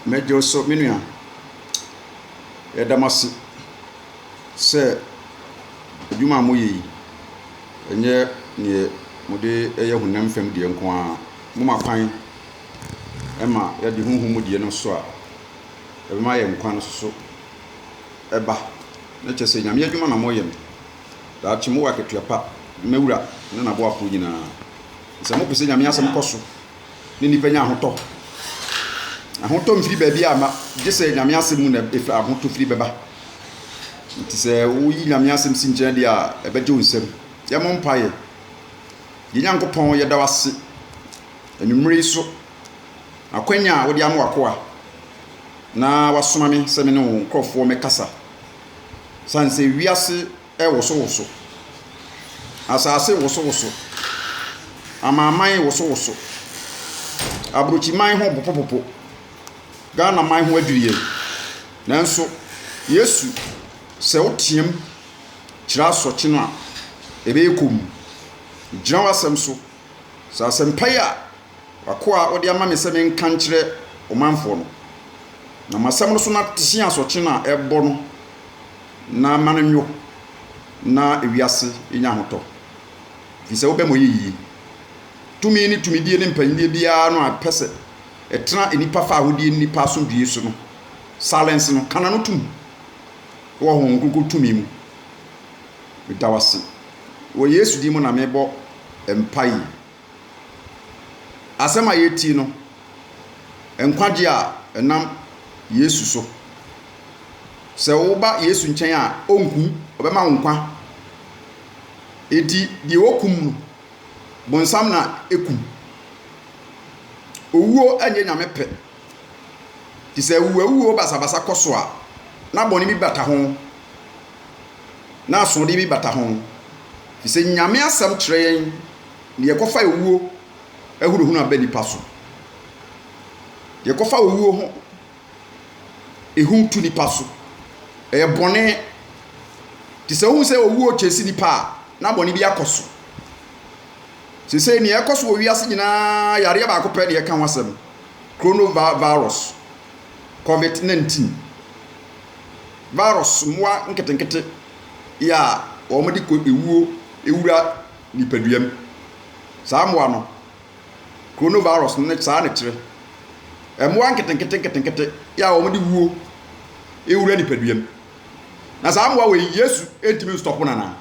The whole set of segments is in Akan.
Megye wo so, me nua. Yɛda mo ase sɛ adwuma a moyɛ yi, ɛnyɛ neɛ mode yɛ honam fam deɛ nko ara. Moma kwan ma yɛde honhom mu deɛ no nso a ɛbɛma yɛn nkwa no nso ba. Na kyerɛ sɛ, Nyame adwuma na moyɛ no. Daakye mowɔ akatua pa. Mawura ne n'aboafoɔ nyinaa. Sɛ mopɛ sɛ Nyame asɛm kɔ so ne nnipa nya ahotɔ. Ahotɔ mfiri baabiara mma, gye sɛ Nyame asɛm mu na ahotɔfiri bɛba. Nti sɛ woyi Nyame asɛm si nkyɛn deɛ a, ɛbɛgye wo nsam. Yɛmmɔ mpaeɛ. Yɛn Nyankopɔn, yɛda wo ase anwummere yi so akwanya a wode ama w'akoa na wasoma me sɛ me ne wo nkurɔfoɔ mmɛkasa. Ɛsiane sɛ wiase rewosowoso. Asase rewosowoso. Amanaman rewosowoso. Aburokyiman ho repopopopo. Ghanaman ho adwiri yɛn. Nanso, Yesu, sɛ woteam kyerɛ asorɔkye no a, ɛbɛyɛ komm. Megyina w'asɛm so. Sɛ asɛmpa yi a w'akoa a wode ama me sɛ menka nkyerɛ ɔmanfoɔ no, na m'asɛm no so na te asorɔkye no a ɛrebɔ no, na mma no nnwo na wiase nnya ahotɔ, efisɛ wobɛma ɔyɛ yiye. Tumi ne tumidie ne mpanyinnie biara no a ɛpɛ sɛ ɛtena nnipa fã a wodie ne nnipa asomdwoeɛ so no, silence no, ka n'ano tom wɔ Honhom Kronkron tumi mu. Meda wo ase. Wɔ Yesu din mu na mebɔ mpae. Asɛm a yɛretie no, nkwagye a ɛnam Yesu so. Sɛ woba Yesu nkyɛn a, ɔnku, ɔbɛma wo nkwa. Enti deɛ wɔkum no, bonsam na ɛkum. Owuo nyɛ Nyame pɛ. Nti sɛ awuwawuo basabasa kɔ so a, na bɔne bi bata ho, na asoɔdeɛ bi bata ho. Ɛfiri sɛ Nyame asɛm kyerɛ yɛn. Deɛ ɛkɔfa owuo ahunahuna aba nnipa so. Deɛ ɛkɔfa owuo ho ehu tu nnipa so. Ɛyɛ bɔne. Te sɛ wohu sɛ owuo rekyɛse nnipa a, na bɔne bi akɔ so. Seesei nea ɛkɔ so wɔ wiase nyinaa, yareɛ baako pɛ na yɛka ho asɛm. Coronavirus, COVID-19. Virus, mmoa nketenkete yɛ a wɔde kɔ ewuo wura. nipadua mu. Saa mmoa no, coronavirus no ne saa na ɛkyerɛ. Mmoa nketenkete nketenkete yɛ a wɔde wuo wura nipadua mu. Na saa mmoa wei Yesu ntumi nstɔpo no anaa?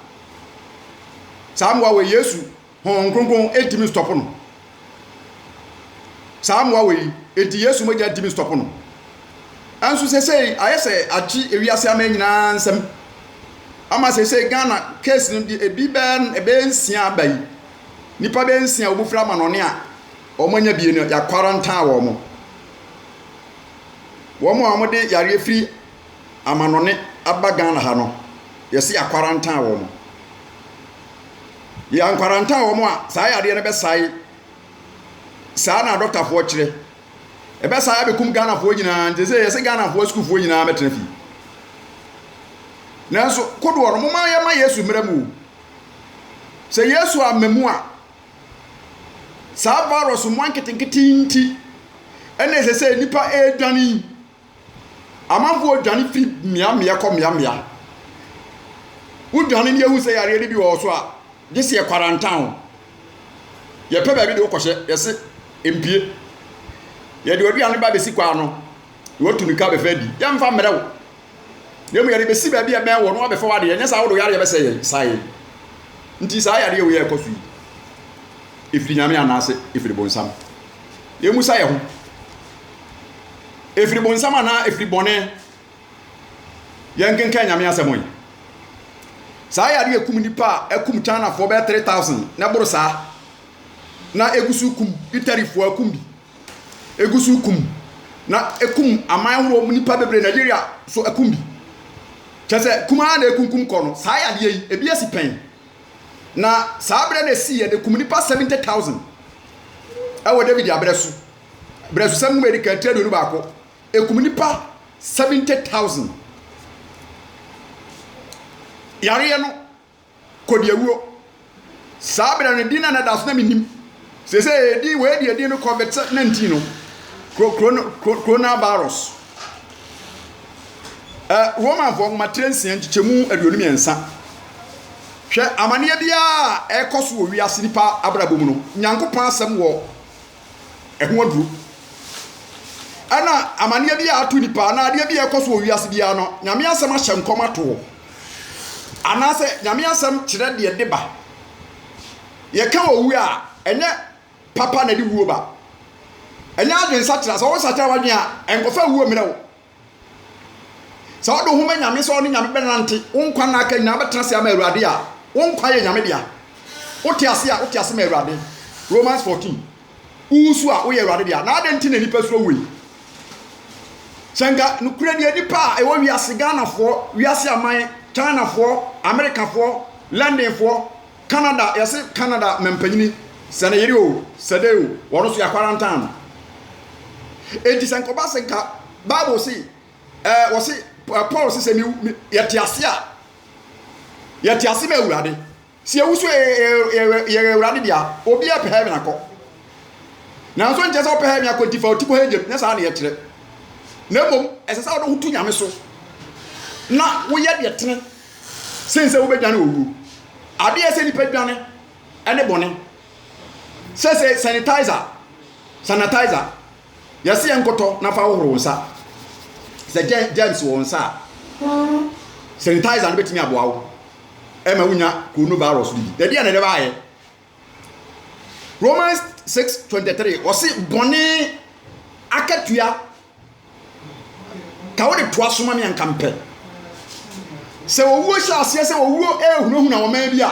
Saa mmoa wei Yesu Honhom Kronkron ntumi nstɔpo no? Saa mmoa wei nti Yesu mogya ntumi nstɔpo no. Nso seesei ayɛ sɛ agye ewiase aman nyinaa nsam ama seesei Ghana case no deɛ ebi bɛyɛ bɛyɛ nsia aba yi. Nnipa bɛyɛ nsia a wɔfiri amanɔne a wɔanya bie no yɛakwarantaa wɔn. Wɔn a wɔde yareɛ firi amanɔne aba Ghana ha no yɛse yɛakwarantaa wɔn. Yɛ ankwaranta wɔn a saa yadeɛ no bɛsae saa na dɔktafoɔ kyerɛ. Ɛbɛsae abɛkum Ghanafoɔ nyinaa nti sɛ yɛsɛ Ghanafoɔ sukuufoɔ nyinaa mɛtena fie. Nanso kodoɔ no moma yɛma Yesu mmerɛ mu o. Sɛ Yesu amma mu a saa virus mmoa nketenkete yi nti ɛna ɛsɛ sɛ nnipa ɛredwane yi. Amanfoɔ dwane firi mmeammea kɔ mmeammea. Wodwane ne yɛhu sɛ yareɛ no bi wɔ wo so a, gye sɛ yɛkwarantan wo. Yɛpɛ baabi de wo kɔhyɛ, yɛse mpue. Yɛde w'aduane ba bɛsi kwan ano na watu mirika abɛfa adi. Yɛmfa mmrɛ wo, na mmom yɛde bɛsi baabi a ɛbɛn wo na wɔabɛfa w'adeɛ, anyɛ saa a wode wo yareɛ bɛsɛe yɛn, sa yɛn. Nti saa yareɛ wei a ɛkɔ so yi, ɛfiri Nyame anaase ɛfiri bonsam? Yɛmmisa yɛn ho. Ɛfiri bonsam anaa ɛfiri bɔne? Yɛnkenkan Nyame asɛm yi. Saa yadeɛ ɛkum nnipa a ɛkum Chinafoɔ bɛyɛ 3000 na ɛboro saa na ɛgu so kum Italyfoɔ akum bi. Ɛgu so kum na ɛkum aman ahoroɔ nnipa bebree Nigeria so ɛkum bi. Kyɛ sɛ kum ara na ɛkunkum kɔ no. Saa yadeɛ yi ebi asi pɛn. Na saa berɛ na ɛsii yɛde kum nnipa 70000 ɛwɔ David aberɛ so. Abrɛfosɛm nwoma a edi kan, ti aduonu baako, Ekum nnipa seventy thousand. Yareɛ no, kɔdiawuo. Saa berɛ no, din no a na ɛda so na mennim. Seesei edin wei deɛ edin no COVID nineteen no, kro kro no kro coronavirus. Ɛ Romanfoɔ nwoma tire nsia nkyekyɛmu aduonu mmiɛnsa. Hwɛ amaneɛ biara a ɛrekɔ so wɔ wiase nipa abrabɔ mu no, Nyankopɔn asɛm wɔ ɛho aduro. Ɛna amaneɛ bi a ato nipa anaa adeɛ bi a ɛkɔ so wɔ wiase biara no, nyame asɛm ahyɛ nkɔm ato hɔ. Anaasɛ nyame asɛm kyerɛ deɛ de ba. Yɛka owu a, ɛnyɛ papa na ɛde wuo ba. Ɛnyɛ adwene sakyera. Sɛ wo sakyera w'adwene a, nkɔfa wuo mmerɛ wo. Sɛ wode wo ho ma Nyame sɛ ɔne Nyame bɛnante wo nkwa nna aka nyinaa wobɛtena ase ama Awurade a, wo nkwa yɛ Nyame dea. Wote ase a, wote ase ma Awurade. Romans 14. Wowosu a, woyɛ Awurade dea. Na adɛn nti na nnipa suro woi? Sɛ nka nokorɛ deɛ nnipa a ɛwɔ wiase, Ghanafoɔ, wiase aman, Chinafoɔ, Amerikafoɔ, Londonfoɔ, Canada yɛse Canada mampanyini sɛ ne yere o sɛ dɛn o wɔno so yɛ akwarantan enti sɛ nkɔba sɛ nka bible se ɛɛ wɔse Paul se sɛ mi yɛte ase a yɛte ase ma awurade sɛ yɛwu so yɛyɛ awurade dea obi a pɛ heaven akɔ nanso nkyɛ sɛ wopɛ heaven akɔ nti fa ɔti kɔ hɛgyam nyɛ saa ne yɛkyerɛ na mmom ɛsɛ sɛ wode ho to nyame so na woyɛ deɛ tene sen sɛ wobɛdwane owuo. Adeɛ ɛsɛ nipa dwane ɛne bɔne. Sɛ sɛ sanitizer, sanitizer, yɛse yɛ nkɔtɔ na fa hohoro wo nsa. Sɛ germs wɔ wo nsa a, sanitizer no bɛtumi aboa wo ɛma wonya coronavirus no bi. Ɛdeɛ na ɛdɛ baayɛ. Romans six twenty three ɔsi bɔne akatua ka wode toa so ma me anka mpɛ sɛ owuo hyɛ aseɛ sɛ owuo ɛrehunahuna ɔman bi a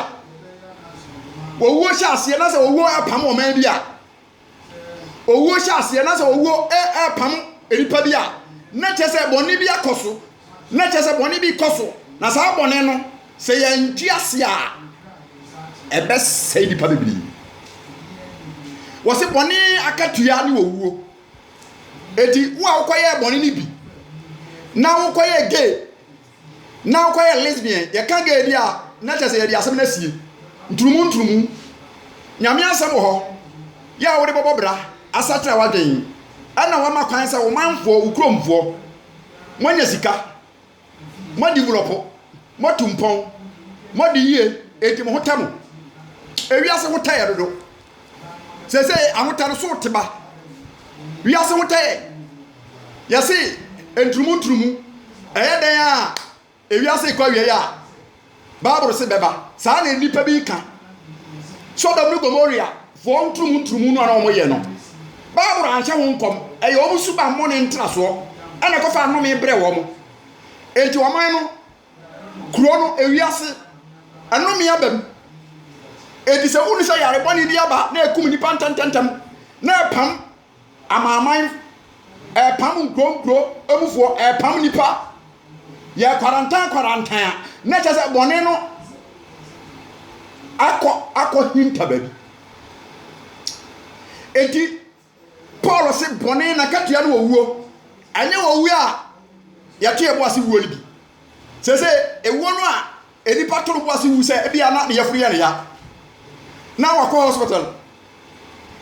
owuo hyɛ aseɛ na sɛ owuo apam ɔman bi a. owuo hyɛ aseɛ na sɛ owuo ɛɛpam nipa bi a na kyerɛ sɛ bɔne bi akɔ so na kyerɛ sɛ bɔne bi kɔ so na saa bɔne no sɛ yɛnte ase a ɛbɛsɛe nipa bebree wɔse bɔne akatua ne owuo eti wo a wokɔyɛɛ bɔne no bi na wokɔyɛɛ gay Na ɔkɔ yɛ lesbian yɛka gay bi a na kyɛ sɛ yɛde asɛm no asie nturumu nturumu Nyame asɛm wɔ hɔ yɛ a wode bɛbɔ bra asatra wadwen ɛna wama kwan sɛ womanfoɔ wo kuromfoɔ moanya sika moadivolɔpo moatu mpɔn moadi yie enti mo ho tɛ mo ewiase ho tɛ yɛ dodo sese ahotɛ no so te ba wiase hotɛ yɛ yɛse nturumu nturumu ɛyɛ dɛn a ewiase kɔ awiei a bible se bɛba saa na nnipa bi ka sodom ne gomoria foɔ nturumu nturumu no a na wɔn yɛ no bible anhyɛ ho nkɔm ɛyɛ wɔn suba mmɔne ntrasoɔ ɛna ɛkɔfa anome brɛ wɔn enti wɔn no kuro no ewiase ɛnome aba mu eti sɛ wuni sɛ yare bɔne bi aba na ekum nipa ntɛntɛntɛm na ɛpam amanaman ɛpam nkuro nkuro emufoɔ ɛpam nipa yɛ kwarantan kwarantan a na kyɛ sɛ bɔne no akɔ akɔ hinta baabi eti. Paul se bɔne nakatua ne owuo. Anyɛ owuo a yɛto yɛn bo ase wuo no bi. Seesei ewuo no a nnipa to no bo ase wu sɛ ebia na ne yafunu yɛ ne ya na wakɔ hospital,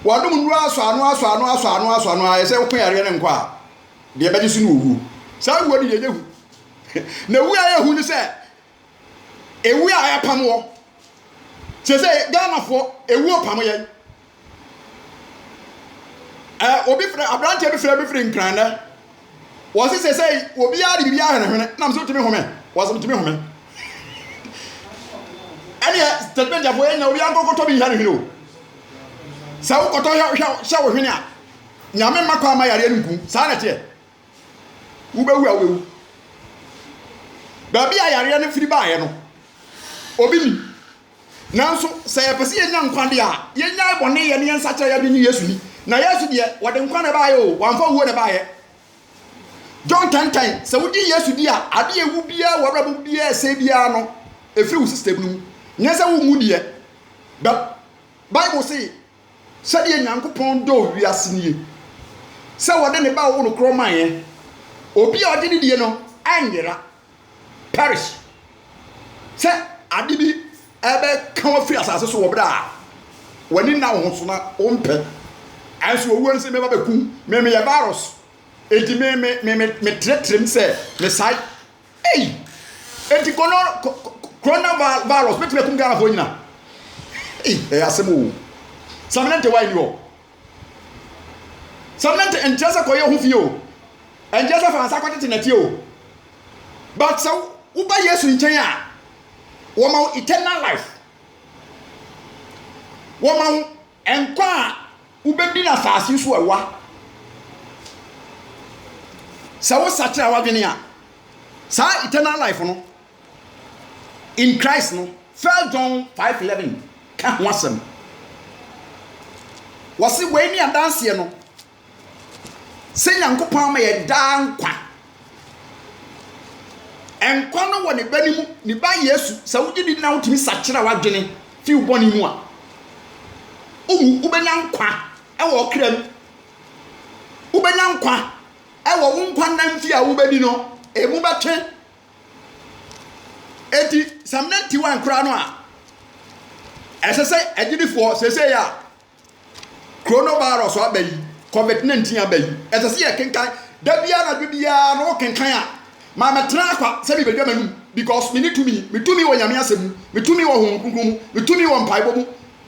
wanom nnuro asɔ ano asɔ ano asɔ ano asɔ ano ara sɛ ɔko yareɛ no nkɔ a, deɛ ɛbɛgye so ne owuo. Saa wuo no yɛnyɛ hu. Na wu a ɛyɛ hu ne sɛ Ewu a ɛpam wɔ. Sese Ghanafoɔ ewuo pam yɛn. Ɛ obi frɛ aberanteɛ bi frɛ bi firi Nkrannɛ. Wɔsi sese obiara de biribiara hwenehwene na mso tumi home. Wɔsi tumi home. Ɛneɛ tɛtɛmɛntiafoɔ yɛn nyina obiara nkɔkɔtɔ bi nhwɛ ne hwene o. Sɛ wokɔtɔ hwɛ hwɛ hwɛ wo hwene a nyame mma kɔ ama yareɛ no nkum saa na ɛteɛ. Wobɛwu a wobɛwu. Baabi a yareɛ no firi baeɛ no, obi nim. Nanso sɛ yɛpɛ sɛ yɛnya nkwa deɛ a, yɛnyae bɔne yɛ ne yɛnsakyera yɛde ne Yesu ni. Na Yesu deɛ, wɔde nkwa na ɛbaeɛ o, wɔamfa wuo na ɛbaeɛ. John 10 10, sɛ wogye Yesu di a, adeɛ ɛwu biara wɔ abrabɔ mu biara ɛsɛe biara no, ɛfiri wo system no mu. Nyɛ sɛ wonwu deɛ, but Bible se Sɛdeɛ Nyankopɔn dɔɔ wiase nie, sɛ ɔde ne Ba a ɔwo no korɔ maeɛ, obi a ɔgye no die no annyera, perish, sɛ ade bi bɛka wo afiri asase so wɔ berɛ a w'ani nna wo ho so na wo mpɛ, nanso owuo no se meba bɛku wo, me meyɛ virus, enti me me me me tretrem sɛ mesae. Ei! Enti kono Corona virus bɛtumi akum Ghanafoɔ nyina? Ei, ɛyɛ asɛm oo. Saminante why ni hɔ? Saminante ɛnkyerɛ sɛ kɔyɛ ho fie o. Ɛnkyerɛ sɛ fa nsa kɔtete nɛteɛ o. But sɛ woba Yesu nkyɛn a, wɔma wo eternal life. Wɔma wo Nkwa a wobɛdi no asase so ɛwa. Sɛ wo sakyera w'adwene a, saa eternal life no in Christ no, First John 5:11 ka ho asɛm. Wɔse wei ne adanseɛ no. Sɛ Nyankopɔn ama yɛ daa nkwa. Nkwa no wɔ ne ba no mu, ne ba Yesu. Sɛ wogye di na wotumi sakyera w'adwene fi wo bɔne mu a, wowu, wobɛnya nkwa wɔ ɔkra mu. Wobɛnya nkwa wɔ wo nkwa nna mfe a wobɛdi no, emu bɛtwe. Enti sɛ mmerante wan koraa no a, ɛsɛ sɛ agyidifoɔ seesei a Coronavirus aba yi, covid 19 aba yi, ɛsɛ sɛ yɛkenkan, da biara anadwo biara no wokenkan a, ma mɛtena akwa sɛ mebɛdwa m'anom, because me ne tumi, me tumi wɔ Nyame asɛm mu, me tumi wɔ Honhom Kronkron mu, me tumi wɔ mpaebɔ mu,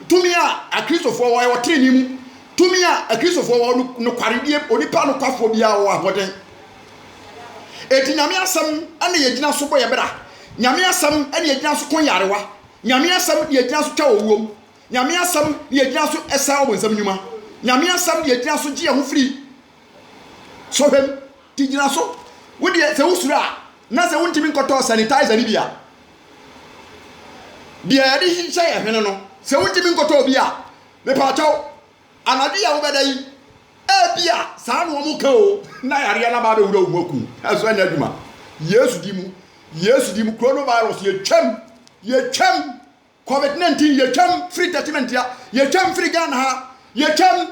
tumi a akristofoɔ wɔ ɛwɔ trenee mu, tumi a akristofoɔ wɔ no, nokwaredie, onipa nokwafoɔ biara wɔ ahoɔden. Eti Nyame asɛm ɛne yɛgyina so bɔ yɛ bra, Nyame asɛm ɛne yɛgyina so ko nyarewa, Nyame asɛm ne yɛgyina so twa owuom, Nyame Asɛm na yɛgyina so sa ɔbonsam nnwuma. Nyame Asɛm na yɛgyina so gye yɛn ho firi sɔhwɛ mu. Nti gyina so. Wo deɛ, sɛ wosuro a, na sɛ wontumi nkɔtɔɔ sanitizer no bi a, deɛ yɛde hyehyɛ yɛn hwene no, sɛ wontumi nkɔtɔɔ bi a, mepaakyɛw, anadwo yi a wobɛda yi, ebia saa na wɔka o, na yareɛ no aba abɛwura wo mu aku wo. Ɛso ɛnyɛ adwuma. Yesu di mu, Yesu di mu, coronavirus, yɛtwam, yɛtwam. Covid 19 yɛtwam firi judgement ya yɛtwam firi Ghana ha yɛtwam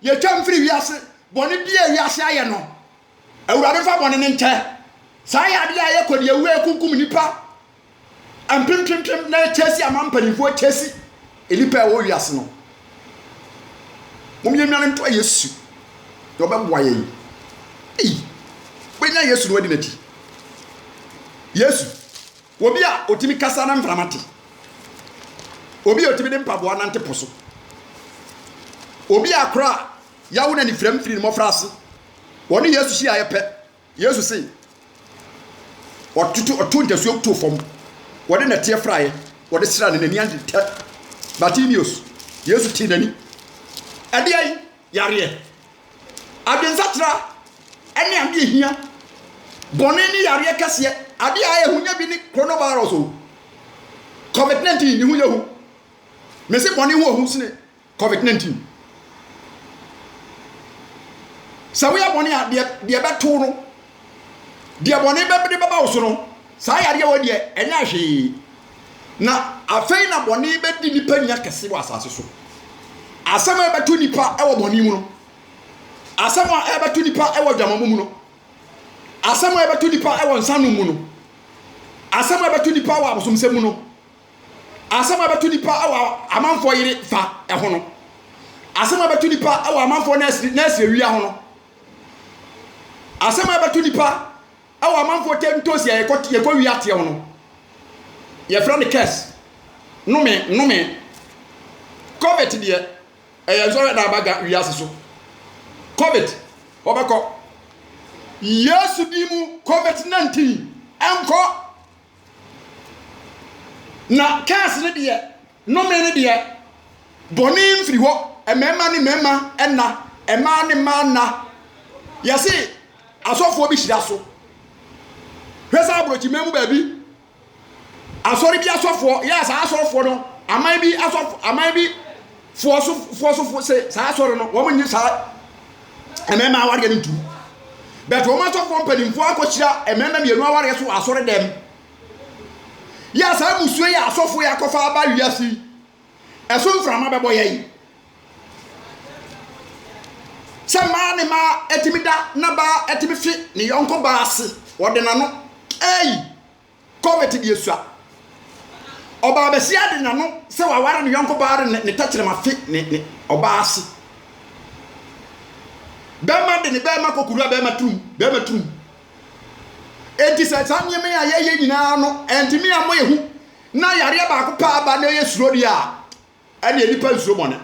yɛtwam firi wiase bɔne bi a wiase ayɛ no awurade mfa bɔne no nkyɛ saa yɛ adeɛ a yɛkɔ deɛ wei kunkum nipa mpempempem na ɛkyɛsi ama mpanimfoɔ kyɛsi nnipa a ɛwɔ wiase no mom yɛ nwane ntoa Yesu na ɔbɛboa yɛn ei wobɛnya Yesu na wadi n'akyi Yesu Obi a otumi kasa na mframa te. Obi a otumi de mpaboa nante po so. Obi a koro a yawo na anifirem firi ne mmɔfraase. Wɔne Yesu hyiaeɛ pɛ, Yesu se, Ɔtoto, ɔtoo ntasuo too fam, wɔde nnɛteɛ fraeɛ, wɔde sraa no, n'ani agye tɛ. Bartimeus, Yesu tee n'ani. Ɛdeɛn? Yareɛ, adwensakyera ne adeɛ a ɛhia. Bɔne ne yareɛ kɛseɛ. Adeɛ a ɛyɛ hu nyɛ bi ne coronavirus o. Covid 19 ne ho yɛ hu. Mese bɔne ho ɔhu sene Covid 19. Sɛ woyɛ bɔne a deɛ ɛbɛto no Deɛ bɔne bɛde bɛba wo so no, saa yadeɛ wɔ deɛ ɛnyɛ hwee. Na afei na bɔne bɛdi nnipa ni akɛse wɔ asase so. Asɛm a ɛbɛto nnipa wɔ bɔne mu no, asɛm a ɛbɛto nnipa wɔ adwamammɔ mu no, asɛm a ɛbɛto nnipa wɔ nsanom mu no, asɛm a ɛbɛto nnipa wɔ abosomsɛm mu no, asɛm a ɛbɛto nnipa wɔ amanfoɔ yere fa ho no, asɛm a ɛbɛto nnipa wɔ amanfoɔ nɛɛsewia ho no, Asɛm a ɛbɛto nnipa wɔ amanfoɔ tam ntoosi a yɛkɔ yɛkɔ wi ateɛ ho no, yɛfrɛ no curse. Nnome, nnome. COVID deɛ, ɛyɛ nsɔhwɛ na aba ga wiase so. COVID, wɔbɛkɔ. Yesu din mu COVID 19, ɛnkɔ. Na curse no deɛ, Nnome no deɛ, bɔne mfiri hɔ, mmarima ne mmarima nna, mmaa ne mmaa nna. Yɛse asɔfoɔ bi hyira so. Hwɛ sɛ aborɔkyiman mu baabi, asɔre bi asɔfoɔ, yɛ saa asɔfoɔ no, aman bi asɔfo, aman bi foɔ so foɔ so foɔ se saa asɔre no, wɔn nye saa mmarima awareɛ no ntum. Bɛtɛ wɔn asɔfoɔ mpanimfoɔ akɔhyira mmarima mmienu awareɛ so asɔre dɛm. Yɛ a saa mmusua yi a asɔfo yi akɔfa aba wiase yi ɛso mframa bɛbɔ yɛn. Sɛ mmaa ne mmaa atumi da na baa atumi fe ne yɔnko baa ase, ɔde n'ano. Ei, COVID deɛ sua. Ɔbaa basia de n'ano sɛ waware ne yɔnko baa de ne tɛkyerɛma fe ne ne ɔbaa ase. Bɛrima de ne bɛrima kɔkuru a bɛrima turum, bɛrima turum. Enti sɛ saa nneɛma yi a yɛyɛ nyinaa no ɛntumi ammɔ yɛn hu na yareɛ baako pɛ aba na ɛyɛ suro deɛ a, ɛdeɛ nipa nsuro bɔne.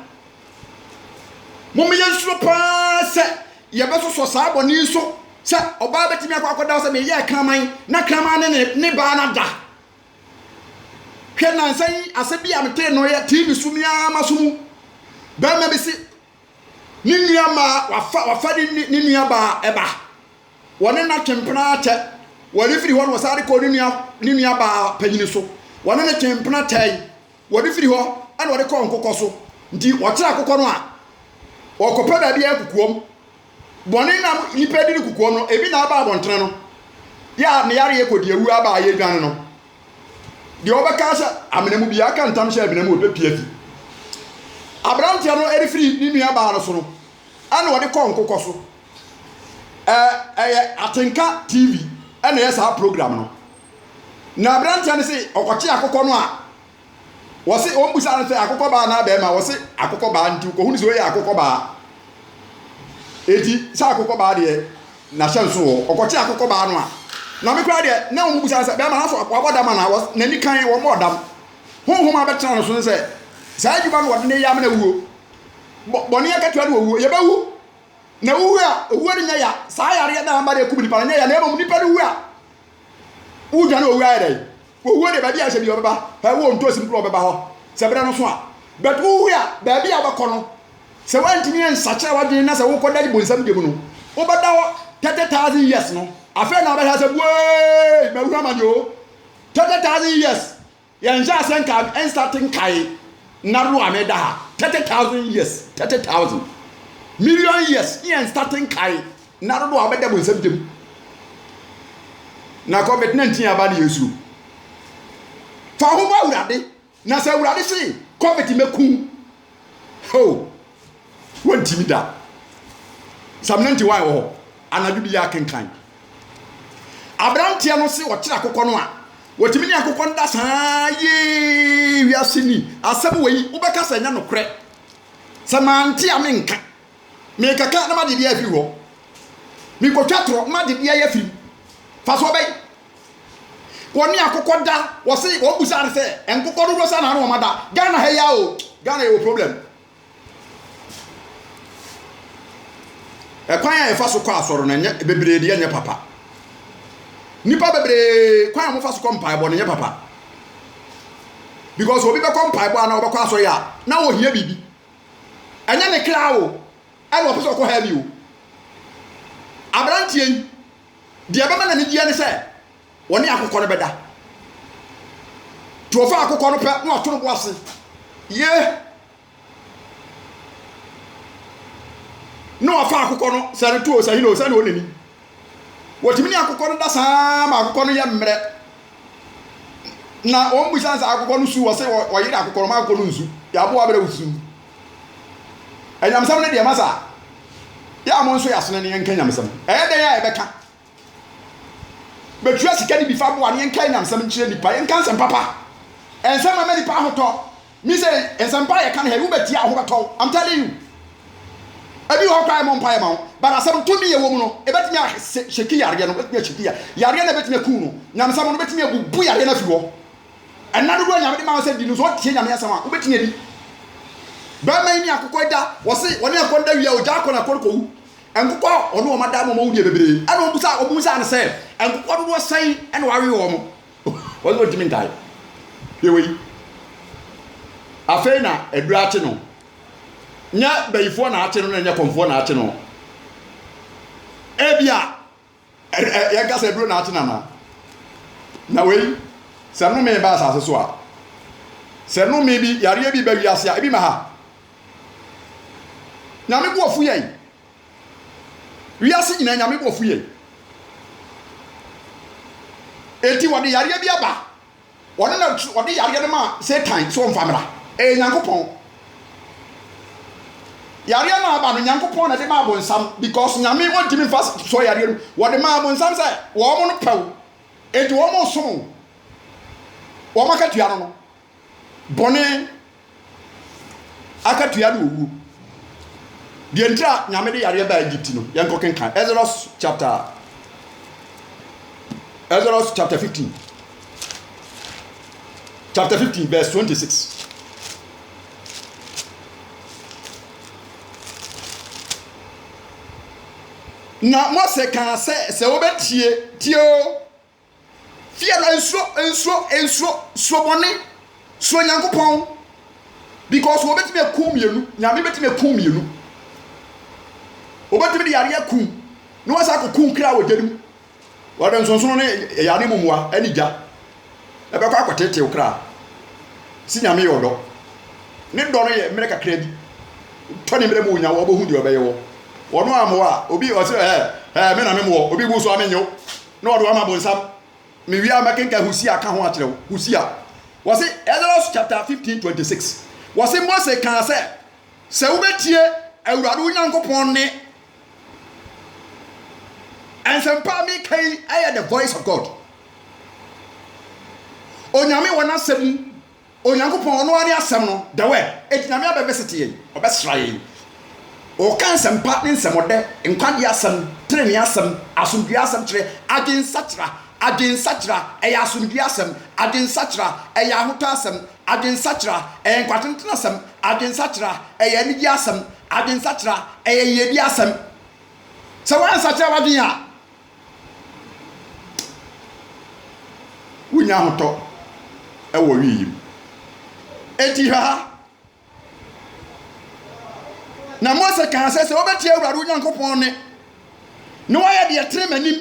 Mom yɛnsuro paa sɛ yɛbɛsosɔ saa bɔne yi so sɛ ɔbaa bɛtumi akɔ akɔda sɛ meyɛɛ kraman na kraman ne ne, ne baa no ada. Hwɛ nansa yi asɛm bi a metee no yɛ TV so me ara m'aso mu. Barima bi se Ne nuammaa, wafa, wafa ne, ne, ne nuabaa ɛba. Wɔne no atwe mpena akyɛ. Wɔde firi hɔ no, wɔsan de kɔ ne nua, ne nuabaa panyini so. Wɔne no twe mpena kyɛe. Wɔde firi hɔ, ɛna wɔde kɔɔ nkokɔ so. Nti, wɔkyerɛ akokɔ no a, wɔkɔpɛ baabi a kukuom. Bɔne na nipa di no kukuom no, ebi na aba abɔntene no. Yɛ a ne yareɛ kɔdi awu aba a yɛdwane no. Deɛ ɔbɛka ahyɛ amena mu biara ka ntam hyɛ amena mu a ɔbɛpue afi aberanteɛ no de firi ne nua baa no so no ɛna ɔde kɔ nkokɔ so. Ɛyɛ Atenka TV ɛna ɛyɛ saa program no. Na aberanteɛ no se ɔkɔkye akokɔ no a. Wɔse wɔn busaa no sɛ akokɔ baa anaa bɛɛma wɔse akokɔ baa nti wokɔ hunu sɛ wei yɛ akokɔ baa eti sɛ akokɔ baa deɛ na hyɛ nso wɔ ɔkɔ te akokɔ baa no a na me koraa deɛ na wɔn busaa no sɛ bɛɛma naso wabɔ dam anaa wɔse n'ani kan wɔn bɔɔ dam honhom abɛtena no so ne sɛ saa adwuma no wɔde ne yɛ amena wuo bɔ bɔne akatua no owuo yɛbɛwu na wuwu a owuo no nyɛ ya saa yareɛ na amba deɛ kum nipa no nyɛ ya na mmom nipa no wu a wudwane owuo ayɛ dɛn Owuo deɛ baabi a ɛsɛ bia ɔbɛba hɛ wɔ ntosi no koro ɔbɛba hɔ sɛ berɛ no so a but wohwe a baabi a wobɛkɔ no sɛ woantumi ansakyera w'adwene na sɛ wokɔ dade bonsam deɛ mu no wobɛda hɔ 30,000 years no afei na wobɛhɛ sɛ buee mahunu amane o 30,000 years yɛnhyɛ aseɛ nka ɛnstate nkae na do a meda ha 30,000 years 30,000 million years yɛnstate nkae Nna dodow a wɔbɛda bɔnsam ntam. Na kɔ bɛtena ntin aba ne asu. Fa wo ho bɔ Awurade, na sɛ Awurade se, kɔ bɛte mɛku wo. Ho! Wɔntimi da. Psalm 91 wɔ hɔ. Anadwo bi yɛ kenkan. Aberanteɛ no se ɔkyerɛ akokɔ no a, wɔtumi ne akokɔ no da saa yee wiase ni. Asɛm wei, wobɛka sɛ ɛnyɛ nokorɛ. Sɛ mante a menka. Merekɛka na m'adedie afiri hɔ. Merekɔtwa torɔ na m'adedie ayɛ firim. Fasoɔ bɛn? Wɔne akokɔ da, wɔse wɔn busa no sɛ nkokɔ dodoɔ sɛ na wɔn ada Ghana ha yi a o. Ghana yɛwɔ problem. Ɛkwan a yɛfa so kɔ asɔre no ɛnyɛ bebree deɛ ɛnyɛ papa. Nnipa bebree kwan a wɔfa so kɔ mpaebɔ no ɛnyɛ papa. Because obi bɛkɔ mpaebɔ anaa ɔbɛkɔ asɔre a na ɔhia biribi. Ɛnyɛ ne kra o, ɛna ɔpɛ sɛ ɔkɔ hɛɛ bi o. Aberanteɛ yi, deɛ ɛbɛma n'anigyeɛ ne sɛ ɔne akokɔ no bɛda. Nti ɔfa akokɔ no pɛ na wato ne bo ase. Yee! Na wafa akokɔ no, sɛ no to o, sɛ he no o, sɛdeɛ ɔnani Wɔtumi ne akokɔ no da saa ara ma akokɔ no yɛ mmerɛ. Na wɔn bisa no sɛ akokɔ no su, wɔse wɔyere akokɔ no ma akokɔ no nsu. Yɛ aboa berɛ wo su. Anyamesɛm no deɛ ma saa. Yɛ a mo nso yɛ asene no yɛnka nyamesɛm. Ɛyɛ dɛn a yɛbɛka? Bɛtua sika no bi fa boa no yɛnka nyamesɛm nkyerɛ nnipa. Yɛnka nsɛm papa. Nsɛm ɛma nnipa ahotɔ. Me sɛ nsɛmpa yɛ ka no ha yi wobɛtie a wo ho bɛtɔ wo I'm telling you. Ebi wɔ hɔ koraa yɛmmɔ mpaeɛ ma wo but asɛm tumi yɛ wɔ mu no ɛbɛtumi ahyɛki yareɛ no ɛbɛtumi ahyɛki yareɛ no ɛbɛtumi aku no nyamesɛm no ɛbɛtumi abubu yareɛ no afiri hɔ ɛna dodoɔ nyame de ma wo sɛ di no so ɔtie nyame asɛm a wobɛtumi adi bɛrima yi ne akokɔ yi da wɔse wɔne akokɔ no da wie a ɔgya akɔ na akokɔ no kɔwu nkokɔ ɔne wɔn ada ma wɔn wudeɛ bebree ɛna wɔn busa wɔn busa no sɛ nkokɔ dodoɔ sɛn ɛna wɔawe wɔn Ɔse ontimi ntae hwɛ wei afei na aduru akye no nyɛ bayifoɔ na akye no na nyɛ kɔmfoɔ na akye no ebia yɛnka sɛ aduro na akye nana na wei sɛ nome ba asase so a sɛ nome bi yareɛ bi ba wiase a ebi ma ha nyame boɔfu yɛn Wiase nyinaa Nyame bo fue. Enti wɔde yareɛ bi aba. Ɔno na ɔde yareɛ no maa Satan sɛ ɔmfa mmra. Ɛyɛ Nyankopɔn. Yareɛ no a aba no, Nyankopɔn na ɛde maa bonsam because Nyame ɔntumi mfa sɔ yareɛ no. Wɔde maa bonsam sɛ wɔn no pɛ wo. Enti wɔn resom wo. Wɔn akatua no no, bɔne akatua ne owuo. Deɛ nti a Nyame de yareɛ baa Egypt no, yɛnkɔ kenkan Exodus chapter Exodus chapter 15 chapter 15 verse 26. Na Mose kaa sɛ, sɛ wobɛtie, tie o, Fear no nsuro nsuro nsuro suro bɔne suro Nyankopɔn because wɔbɛtumi akum mmienu Nyame bɛtumi akum mmienu wɔbɛtumi de yareɛ akum na wɔasa akɔ kum kra wɔ gya no mu wɔde nsonsono ne ɛyaa ne mumua ɛne gya ɛbɛkɔ akɔtetew kra si Nyame yɛ ɔdɔ ne dɔ no yɛ mmerɛ kakra bi tɔ ne mmerɛ mu nya wɔbɛhu deɛ ɔbɛyɛ wɔ wɔn a mmoa obi ɔsɛ ɛɛ ɛɛ me na me mmoɔ obi bu so a menyew Na wɔde wɔama bonsam. Mewie a mɛkenkan Hosea ka ho akyerɛ wo. Hosea. Wɔse, Exodus chapter 15 26. Wɔse Mose kaa sɛ, sɛ wobɛtie Awurade wo Nyankopɔn nne. Nsɛmpa a meka yi yɛ the voice of God. Onyame wɔ n'asɛm mu. Onyankopɔn, ɔno ara ne Asɛm no, the Word, enti Nyame abɛvisite yɛn, ɔbɛsra yɛn. Ɔka nsɛmpa ne nsɛmɔdɛ, nkwagyeɛ asɛm, trenee asɛm, asomdwoeɛ asɛm kyerɛ, adwensakyera, adwensakyera, ɛyɛ asomdwoeɛ asɛm, adwensakyera, ɛyɛ ahotɔ asɛm, adwensakyera, ɛyɛ nkwatentene asɛm, adwensakyera, ɛyɛ anigyeɛ asɛm, adwensakyera, ɛyɛ yiedie asɛm. Sɛ woansakyera w'adwene a. Wonnya ahotɔ wɔ wii mu. Enti hwɛ ha. Na Mose kaa sɛ, sɛ wobɛtie Awurade wo Nyankopɔn nne na woayɛ deɛ ɛtene m'anim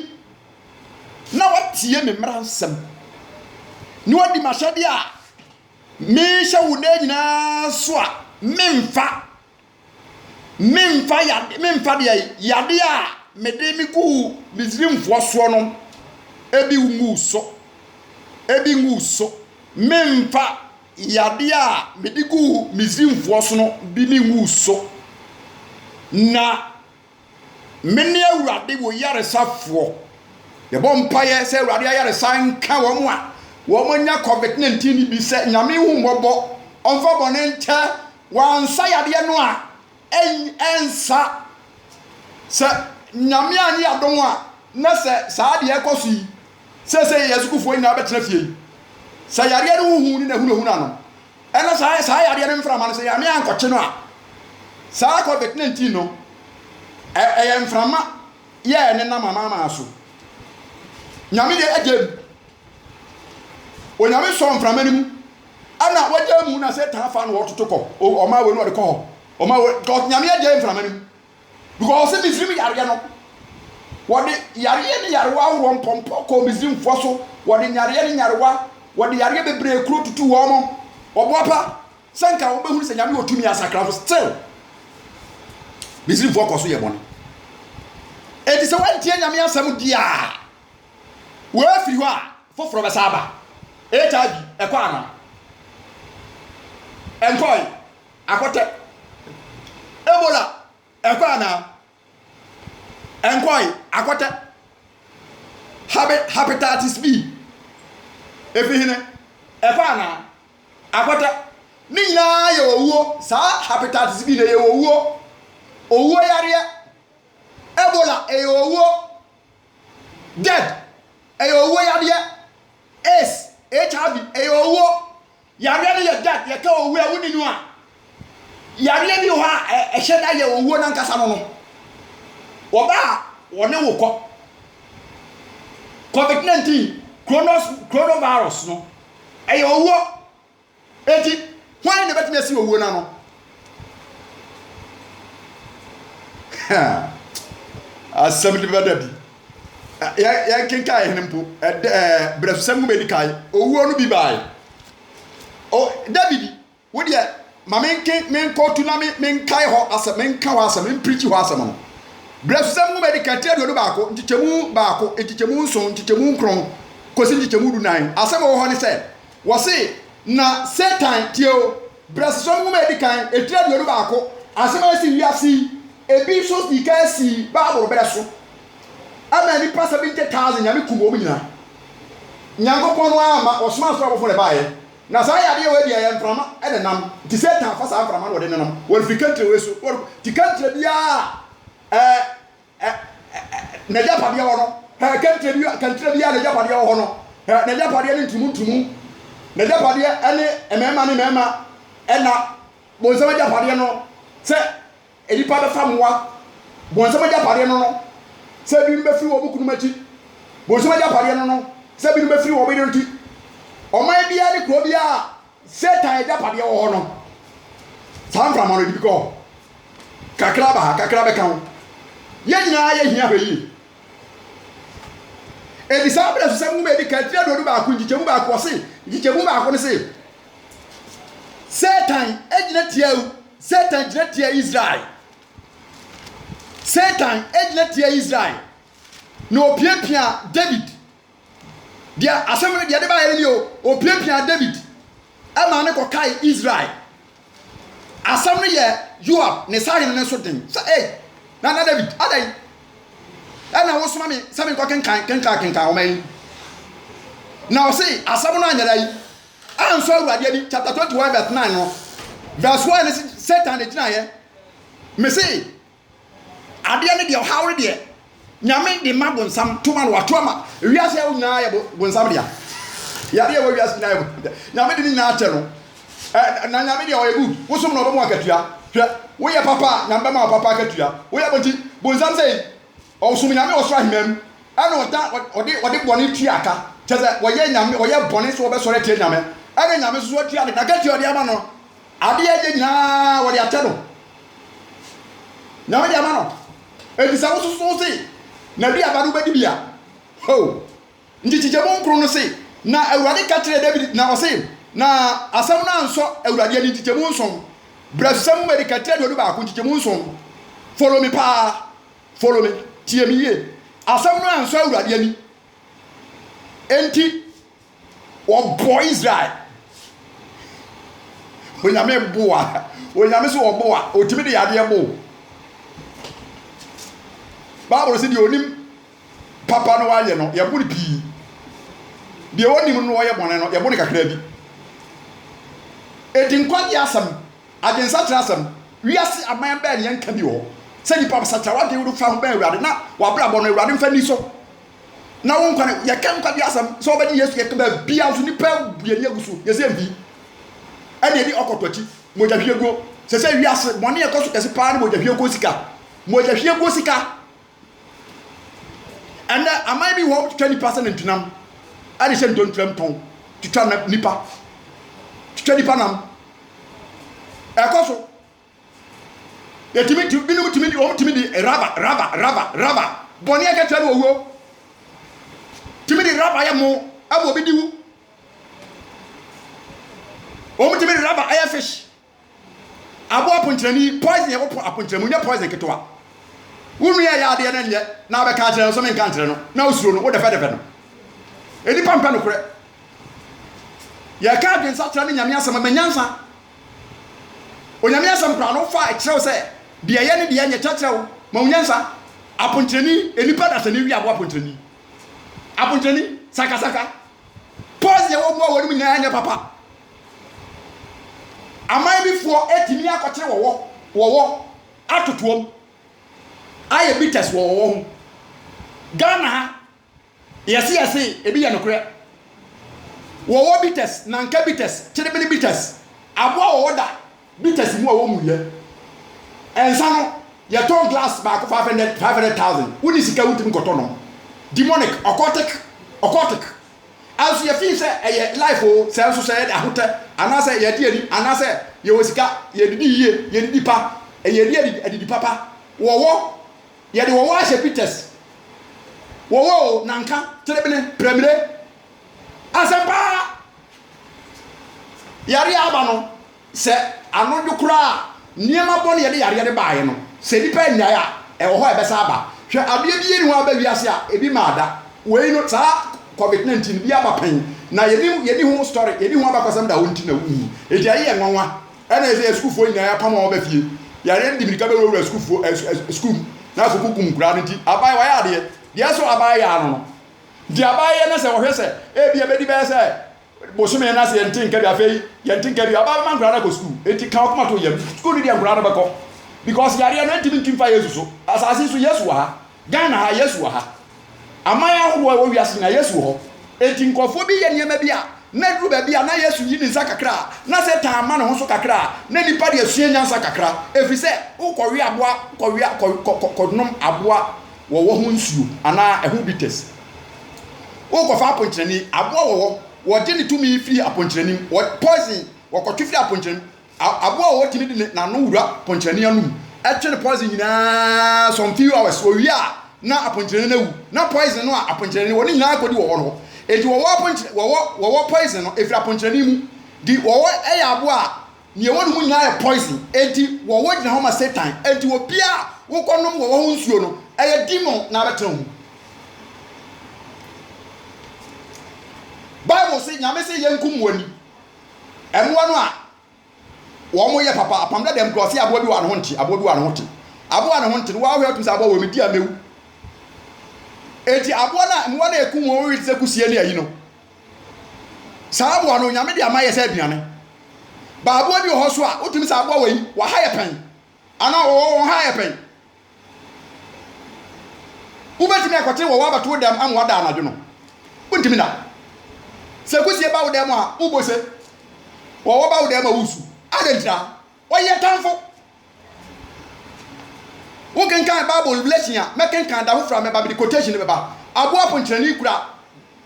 na woatie me mmara nsɛm na woadi m'ahyɛdeɛ a mehyɛ wo nnɛ nyinaa so a, meremfa Meremfa yade, meremfa deɛ ayi, yade a mede me guu Misrimfoɔ soɔ no bi ngu wo so, bi ngu wo so. Meremfa yade a mede guu Misrimfoɔ so no bi ngu wo so. Na. Mene Awurade wo yaresafoɔ. Yɛbɔ mpaeɛ sɛ Awurade ayaresa nka wɔn a wɔanya COVID-19 no bi sɛ Nyame hu mmɔbɔ, ɔmfa bɔne nkyɛ wɔn, ansa yadeɛ no a ɛnsa, sɛ Nyame anyɛ adom a, na sɛ saa deɛ ɛkɔ so yi, seesei yɛn sukuufoɔ nyinaa bɛtena fie yi, sɛ yareɛ no ho hu ne n'ahunahuna no, Ɛna saa saa yadeɛ no mframa no sɛ Nyame ankɔkye no a saa covid 19 no ɛ ɛyɛ mframa yɛ ɛne nam amaamaa so Nyame deɛ agya mu Onyame sɔ mframa no mu ɛna wagya mu na sɛ taa fa no wɔtoto kɔ ɔma wei no wɔde kɔ hɔ ɔma wei Nyame agya mframa no mu Because ɔse Misrim yareɛ no wɔde yareɛ ne yarewa ahoroɔ mpɔmpɔ kɔɔ Misrimfoɔ so wɔde nyareɛ ne nyarewa wɔde yareɛ bebree kuro tutu wɔn mo ɔboapa sɛ nka wɔn bɛhunu sɛ nyame wɔ tumi asakra mo still Misrimfoɔ kɔ so yɛ bɔne eti sɛ wɔntie nyame asɛm di a wɔafiri hɔ a foforɔ bɛsa aba HIV ɛkɔ ana ɛnkɔe Akwata Ebola ɛkɔ anaa? Ɛnkɔe, akwata Habe, Hepatitis B ɛfiri hene? Ɛkɔ anaa? Akwata Ne nyinaa yɛ owuo, saa Hepatitis B no ɛyɛ owuo, owuo yareɛ Ebola ɛyɛ owuo, dead ɛyɛ owuo yadeɛ AIDS, HIV ɛyɛ owuo, Yareɛ no yɛ death, yɛka owuo a wonni no a, yareɛ bi wɔ hɔ a ɛhyɛ da yɛ owuo no ankasa no no. Wɔba a wɔne wo kɔ. Covid 19, kronos, coronavirus no, ɛyɛ owuo. Enti hwan na ɛbɛtumi asi owuo no ano? Asɛm no bɛda bi. Yɛnkenkan hene mpo, berɛfsɛm nwoma edi kan, owuo no bi bae. David, wo deɛ, ma menkɔtu na menkae hɔ asɛm, menka hɔ asɛm, memprikyi hɔ asɛm no. Berɛfsɛm nwoma edi kan, tiri aduonu baako, nkyekyɛmu baako, nkyekyɛmu nson, nkyekyɛmu nkron, kɔsi nkyekyɛmu dunan. Asɛm a ɛwɔ hɔ ne sɛ, wɔse, Na Satan, tie o, Brɛsesɛm nwoma a edi kan, etire aduonu baako, asɛm a esi wiase yi bi so dii kan sii Bible bere so. Ɛmaa nnipa seventy thousand Nyame kum wɔn nyinaa. Nyankopɔn no ara mma, ɔsomaa soro abɔfo na ɛbaeɛ. Na saa yadeɛ wei deɛ ɛyɛ mframa na ɛnam, nti Satan fa saa mframa no na ɔde nenam, wɔde firi kankyire wei so, wɔde kɔ, nti kankyire biara a ɛɛ Ɛ ɛ ɛ N'agyapadeɛ wɔ no Ɛ Kɛntire bi kɛntire biara n'agyapadeɛ wɔ hɔ no Ɛ N'agyapadeɛ ne ntumu ntumu N'agyapadeɛ ne mmarima ne mmarima Ɛna bonsam agyapadeɛ no Sɛ nnipa bɛfa mmoa Bonsam agyapadeɛ no no Sɛ binom bɛfiri wɔn kununom akyi Bonsam agyapadeɛ no no Sɛ binom bɛfiri wɔn yerenom akyi Ɔman biara ne kuro biara Satan agyapadeɛ wɔ hɔ no, saa mframa no ɛde bi kɔ hɔ. Kakra ba ha, kakra bɛka ho. Yɛn nyinaa yɛ hia hwɛ yie. Edi saa abere so sɛ nwoma edi kan tiri aduonu baako nkyekyɛmu baako ɔse nkyekyɛmu baako no se Satan egyina tia Satan gyina tia Israel. Satan egyina tia Israel na opiapia David Deɛ asɛm no, deɛ ɛde baeɛ no nie o, wɔpiapiaa Dawid maa no kɔkae Israel. Asɛm no yɛɛ Yoab ne sahene no nso den sɛ, Ei, Nana Dawid, adɛn na wosoma me sɛ menkɔkenkan kenkan kenkan nwoma yi? Na ɔse, asɛm no anyɛ dɛn? Ansɔ Awurade ani. Chapter 21 verse 9 no, verse 1 no se, Satan na ɛgyinaeɛ. Mese, Adeɛ no deɛ ɔhaw no deɛ Nyame de ma bonsam toma no wato ama wiase ɛwo nyinaa yɛ bonsam dea yare ɛwɔ wiase nyinaa yɛ Nyame de ne nyinaa kyɛ no na Nyame deɛ ɔyɛ good wosom na ɔbɛmu akatua hwɛ woyɛ papa a Nyame bɛma papa akatua woyɛ bɔnti bonsam sɛ Ɔsom Nyame wɔ soro aheman mu, ɛna ɔda, ɔde, ɔde bɔne tua ka. Kyerɛ sɛ, wɔyɛ Nyame, wɔyɛ bɔne sɛ wɔbɛsɔre atia Nyame, ɛna Nyame nso so atua no, n'akatua a ɔde ama no no, adeɛ a ɛyɛ nyina ara wɔde akyɛ no, Nyame de ama no. Enti sɛ wo soso se, n'aduaba no wobɛdi bi a, hoo! Nti kyekyɛmu nkron no se, Na Awurade ka kyerɛɛ Dawid, na ɔse, Na asɛm no ansɔ Awurade ani, nkyekyɛmu nson, Berɛ so sɛ mo mmarikatire aduonu baako, nkyekyɛmu nson, follow me paa, Follow me, tie me yie. Asɛm no ansɔ Awurade ani, enti wɔbɔɔ Israel. Onyame bo a, onyame so ɔbo a, otumi de yadeɛ bo. Bible sɛ deɛ onim papa no wayɛ no, yɛbo no pii. Deɛ onim no ɔyɛ bɔne no, yɛbo no kakra bi. Enti nkwagye asɛm Adwensa kyerɛ asɛm. Wiase aman bɛn ne yɛn nka bi wɔ hɔ sɛ nnipa bɛsakyera w'adwen wode fa ho bɛn Awurade na w'abrabɔ no Awurade mfa nni so na wo nkwa no yɛka nkwagye asɛm sɛ wobɛgye Yesu yɛka baabia nso nnipa abu yɛn ani agu so yɛsɛ yɛmfi ɛne ɛdi ɔkɔtɔ akyi mogyahwiaguo sɛ sɛ wiase bɔne ɛkɔ so kɛse paa ne mogyahwiaguo sika mogyahwiaguo sika Ɛnnɛ, aman bi wɔ hɔ a wotwitwa nnipa sɛ nantinam de hyɛ ntontrem tɔn, twitwa nnipa, twitwa nnipa nam. Ɛkɔ so. Yɛtumi tu binom tumi de wɔn tumi de raba raba raba raba bɔne a ɛkyɛ no owuo. Tumi de raba yɛ mo ɛma obi di wu. Wɔn tumi de raba ɛyɛ fish. Aboa aponkyerɛni, poison yɛ wopon aponkyerɛ mu, nyɛ poison ketewa. Wo nua ɛyɛ adeɛ na nyɛ na wobɛka akyerɛ no nso menka nkyerɛ no na wosuro no, wodɛfɛdɛfɛ no. Nnipa mpɛ nokorɛ. Yɛka adwensakyera ne Nyame asɛm a, ma nyansa. Onyame asɛm koraa no wofa ɛkyerɛ wo sɛ deɛ ɛyɛ ne deɛ ɛnyɛ kyerɛkyerɛ wo, ma wo nyansa. Aponkyerɛni, nnipa dasani wie aboa aponkyerɛni. Aponkyerɛni, sakasaka. Poison yɛ wɔ mmoa wɔ anim nyinaa ɛnyɛ papa. Aman bi foɔ atumi akɔkyere wɔwɔ wɔwɔ atotoam ayɛ bitters wɔ wɔwɔ ho. Ghana ha yɛse yɛse ebi yɛ nokorɛ. Wɔwɔ bitters, nanka bitters, kyerebene bitters aboa wɔwɔ da bitters mu a wɔn mu yɛ. Nsa no yɛtɔn glass baako five hundred five hundred thousand wonni sika wontumi nkɔtɔ nom. Demonic, occultic, occultic. Nso yɛfii sɛ ɛyɛ life oo, sɛ nso sɛ yɛde ahotɛ anaasɛ yɛde ani anaasɛ yɛwɔ sika, yɛdidi yie, yɛdidi pa, yɛdi adidi adidi papa, wɔwɔ, yɛde wɔwɔ ahyɛ pictures, wɔwɔ oo, nanka, terebene, prɛmire, asɛm paa, yareɛ aba no, Sɛ anodwo koraa a nneɛma bɔne a ɛde yareɛ no baeɛ no, sɛ nnipa annyae a, ɛwɔ hɔ a ɛbɛsan aba. Hwɛ, adeɛ biara nni hɔ a aba wiase a ebi mmaa da. Wei no, saa Covid 19 no, bi aba pɛn, na yɛnim, yɛnni ho story, yɛnni ho abakɔsɛm da, wo nti na wonhu. Enti ɛyɛ yɛn nwanwa. Ɛnna ɛyɛ sɛ yɛn sukuufoɔ nyinaa yɛapam wɔn aba fie. Yareɛ no de mmirika bɛwurawura sukuufoɔ, ɛ, ɛ, sukuu mu, na afei kɔkum nkwadaa no. Nti aban, wɔayɛ adeɛ. Deɛ ɛsɔ aban yɛ ano no, nti aban yɛ na sɛ wɔhwɛ sɛ ebia ɛbɛdi bɛyɛ sɛ Bosome no ase yɛnte nka bi afei yɛnte nka bi ɔbaa bɛma nkwadaa no akɔ sukuu enti ka ɔkoma to yam sukuu no deɛ nkwadaa no bɛkɔ because yareɛ no ɛntumi nti mfa Yesu so asase so Yesu wɔ ha Ghana ha Yesu wɔ ha aman ahodoɔ ɛwɔ wiase nyinaa Yesu wɔ hɔ enti nkurɔfoɔ bi yɛ nneɛma bi a na duru baabi a na Yesu yi ne nsa kakra a na Satan ama ne ho so kakra a na nipa deɛ sua nyansa kakra ɛfiri sɛ wokɔwe aboa kɔwea kɔnom aboa wɔwɔ ho nsuo anaa ɛho bitters Wokɔ fa aponkyerɛni, aboa wɔ hɔ, wɔgye ne tumi firi aponkyerɛni mu, wɔ poison wɔkɔ twe firi aponkyerɛni mu, aboa wɔ hɔ tumi de n'ano wura ponkyerɛni anum, ɛtwe no poison nyinaa some few hours, wɔwie a na aponkyerɛni no awu, na poison no a aponkyerɛni wɔn nyinaa kɔdi wɔ hɔ no hɔ. Enti wɔwɔ aponkyerɛ, wɔwɔ, wɔwɔ poison no, ɛfiri aponkyerɛni mu, di wɔwɔ ɛyɛ aboa a. Nea ɛwɔ ne mu nyinaa yɛ poison, enti wɔwɔ gyina hɔ ma Satan, enti obiara a wokɔnom wɔ wɔho nsuo no, ɛyɛ demon na abɛtena wo mu. Bible se Nyame se yɛnkum mo ani, mmoa no a wɔn yɛ papa, apam dada mu kura ɔse aboa bi wɔ ne ho nte, aboa bi wɔ ne ho te, aboa ne ho nte no wahwɛ atum sɛ aboa wɔ me di a mewu, enti aboa no a mmoa no a ɛkum wɔn wɔ te sɛ kusie ne ayi no, Saa aboa no Onyame de ama yɛ sɛ aduane. Ba aboa bi wɔ hɔ nso a wotumi sɛ aboa wei waha yɛ pɛn anaa ɔwɔ wɔn ha yɛ pɛn. Wobɛtumi akɔte wɔ w'abɛto wo dɛm ama wada anadwo no? Wontumi da. Sɛ kusie ba wo dɛm a wobɔ se, wɔwɔ ba wo dɛm a wosu. Adɛn ntira? Ɔyɛ tamfo. Wokenkan Bible revelation a, mɛkenkan da foforɔ a mɛba mede quotation no bɛba. Aboa ponkyerɛne kura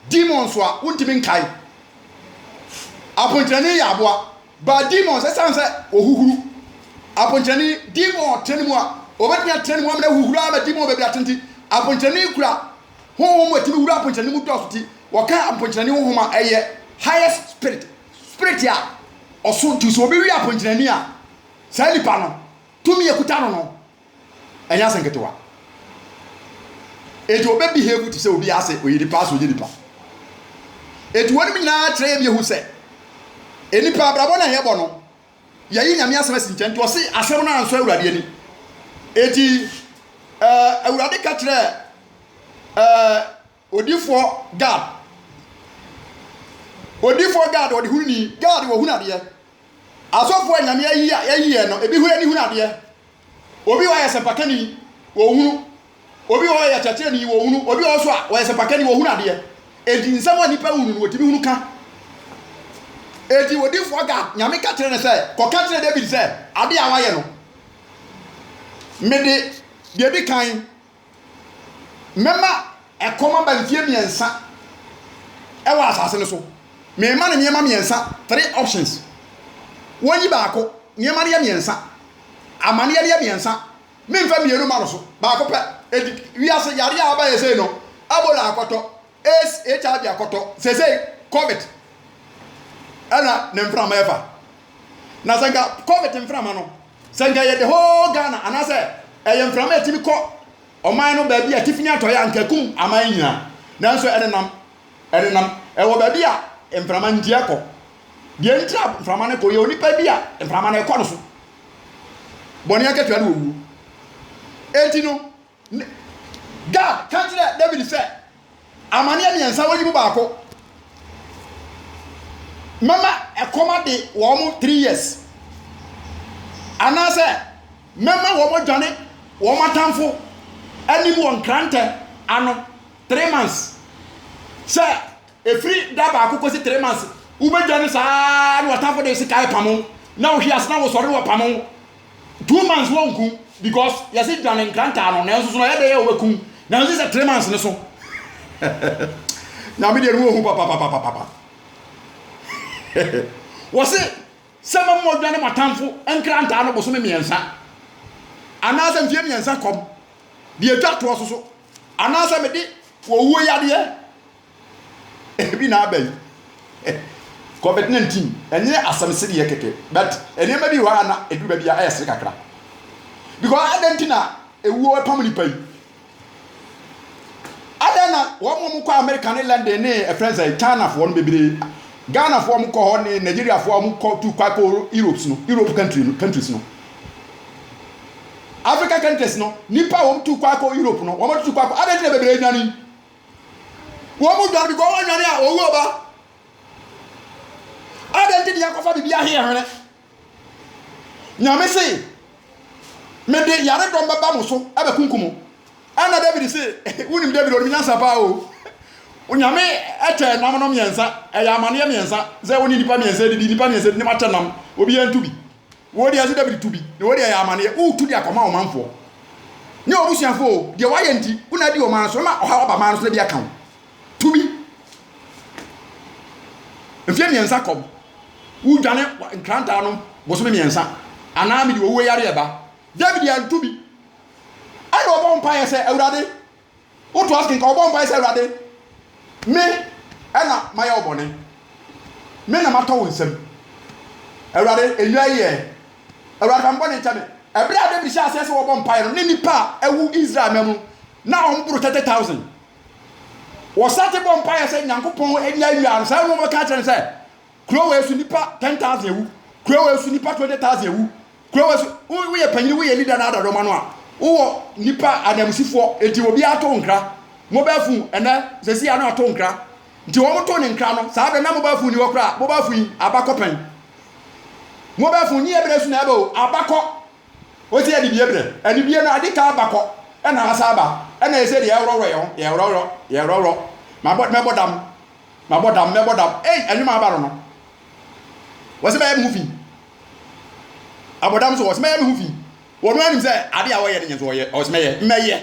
demons a wontumi nkae. Aponkyerɛne yɛ aboa, but demons ɛsiane sɛ ɔhuhuru. Aponkyerɛne demon tena ne mu a, ɔbɛtumi atena ne mu amena huhuru ama demon baabi ate nti, aponkyerɛne kura honhom a ɛtumi wura aponkyerɛne mu dɔɔso ti, wɔka aponkyerɛne honhom a ɛyɛ highest spirit. Spirit a ɔso nti sɛ obi we aponkyinani a, saa nipa no, tumi a ɛkuta no no, ɛnyɛ ase nketewa. Enti ɔbɛ behave te sɛ obi ase ɔyɛ nipa ase ɔnyɛ nipa. Enti wɔnom nyinaa kyerɛ yɛ biehu sɛ, nipa abrabɔ no a yɛbɔ no, yɛyi nyame asɛm asi nkyɛn nti ɔse asɛm no ansɔ awurade ani. Enti eh, awurade ka kyerɛ eh, Odifoɔ Gad Odifoɔ Gad ɔde hunu ni, Gad wɔhunu adeɛ. Asɔfoɔ a Nyame ayi a yɛayi yɛn no, ebi hɔ ani hunu adeɛ. Obi wɔ hɔ a ɔyɛ sɛmpakani, wɔhunu. Obi wɔ hɔ a ɔyɛ kyerɛkyerɛni, wɔhunu. Obi wɔ hɔ nso a ɔyɛ sɛmpakani, wɔhunu adeɛ. Enti nsɛm a nnipa hunu no, wɔtumi hunu ka. Enti odifoɔ Gad, Nyame ka kyerɛ no sɛ, Kɔka kyerɛ David sɛ, adeɛ a woayɛ no, mede deɛ ɛdi kan Mɛma ɛkɔm aba mfeɛ mmiɛnsa wɔ asase no so. Merema no nneɛma mmiɛnsa, three options. Wɔnyi baako, nneɛma no yɛ mmiɛnsa. Amaneɛ no yɛ mmiɛnsa. Memfa mmienu mma no so, baako pɛ. Enti wiase yareɛ a aba yɛ sei no, Ebola akɔtɔ, AIDS, HIV akɔtɔ, seesei Covid na ne mframa ɛfa. Na sɛ nka Covid mframa no, sɛ nka ɛyɛ the whole Ghana anaasɛ ɛyɛ mframa a ɛtumi kɔ ɔman no baabi a atifi ne atɔeɛ a nka ɛkum aman nyinaa. Nanso ɛnenam, ɛnenam, ɛwɔ baabi a mframa ntia kɔ. Deɛ ntira mframa no kɔ yɛ onipa bi a mframa no ɛkɔ no so. Bɔne akatua no wɔ wuo. Enti no, Ne. Gad ka kyerɛɛ Dawid sɛ, Amanneɛ mmiɛnsa, woyi mu baako. Mɛma ɛkɔm ade wɔn three years. Anaasɛ mɛma wɔadwane wɔn atamfo anim wɔ nkrantɛ ano three months. Sɛ ɛfiri da baako kɔsi three months, wobɛdwane saa na w'atamfo de sekan pamo, na wohwe ase na wosɔre na wɔpamo wo. Two months wɔnku because yɛse dwane nkrantaa no nanso so na ɛyɛ dɛ yɛ wɔbɛkum nanso sɛ three months ne so nyame deɛ ne wɔhu papapapapapa wɔse sɛ ma mu ɔdwane matamfo nkrantaa no bosome mmiɛnsa anaasɛ mfie mmiɛnsa kɔm deɛ ɛtwa toɔ so so anaasɛ mede wɔwuo yadeɛ Ebi na aba yi. Covid 19 ɛnyɛ asɛm sereɛ kɛkɛ but nneɛma bi wɔ hɔ a na ɛduru baabi a ɛyɛ sere kakra because adɛn nti na ewuo ɛpam nipa yi adɛn na wɔn wɔn kɔ America ne London ne ɛfrɛ nsɛ China foɔ no bebree Ghana foɔ wɔn kɔ hɔ ne Nigeria foɔ wɔn kɔ tu kwa kɔ Europe no Europe country no countries no Africa countries no nipa wɔn tu kwa kɔ Europe no wɔn tu kwa kɔ adɛn nti na bebree nwane Wɔn mu dɔn because wɔn anwane a owuo ba. Adɛn nti ne yɛkɔfa biribi ahe yɛ hwene? Nyame se, mede yare dɔm bɛba mo so ɛbɛkunkum mo. Ɛna David se, wonim David onim nyansa paa o. Onyame ɛkyɛ nam no mmiɛnsa, ɛyɛ amaneɛ mmiɛnsa, sɛ wo ne nipa mmiɛnsa didi, nipa mmiɛnsa didi, ne mo akyɛ nam, obiara ntu bi. Wo deɛ nso David tu bi na wo deɛ yɛ amaneɛ woretu de akɔma wo manfoɔ ne w'abusuafoɔ o, deɛ woayɛ nti wo na adi wɔn ara so mɛma ɔhaw aba man no so na bi aka wo. Tu bi. Mfeɛ mmiɛnsa kɔm, wodwane nkranta nom bosome mmiɛnsa anaa mede owuo yareɛ ba. David antu bi. Ɛnna ɔbɔɔ mpaeɛ sɛ, Awurade, Wotoa so kenkan, wɔbɔ mpae sɛ, Awurade, me na mayɛ wo bɔne, me na matɔ wo nsam. Awurade, nnwa yi ɛ. Awurade, fa me bɔne kyɛ me. Bere a David hyɛɛ aseɛ sɛ wɔbɔ mpae no, na nnipa a awu Israel mma mu no, na wɔboro 30,000. Wɔsan te bɔɔ mpaeɛ sɛ, Nyankopɔn, nnwa yi ɛ. Saa ara na wɔbɛka akyerɛ no sɛ, Kuro wei so nnipa 10,000 awu, kuro wei so nnipa 20,000 awu, Kuro wɔ so, wo woyɛ panyin, woyɛ leader na ada dɔm ano a, wowɔ nipa ananmusifoɔ, nti obiara to nkra, mobile phone, ɛnɛ sɛsi ano ato nkra, nti wɔn to ne nkra no, saa bere na mobile phone ni hɔ koraa, mobile phone yi abakɔ pɛn, mobile phone nyi ɛbrɛ so na ɛba o, abakɔ, ɔsi yɛ de bie brɛ, ɛde bie no ade ka abakɔ, ɛna asa aba, ɛna ɛsɛ de yɛworɔworɔ yɛn ho, yɛworɔworɔ, yɛworɔworɔ, mabɔ mɛbɔ dam, mabɔ dam, mɛbɔ dam, ei ɛnwom a aba no no, wɔsi bɛyɛ mo ho fi. Abɔdam so, ɔse mɛyɛ me ho fi. Wɔn ara nim sɛ ade a wɔyɛ no nyɛ nso wɔyɛ. Ɔse mɛyɛ, mɛyɛ.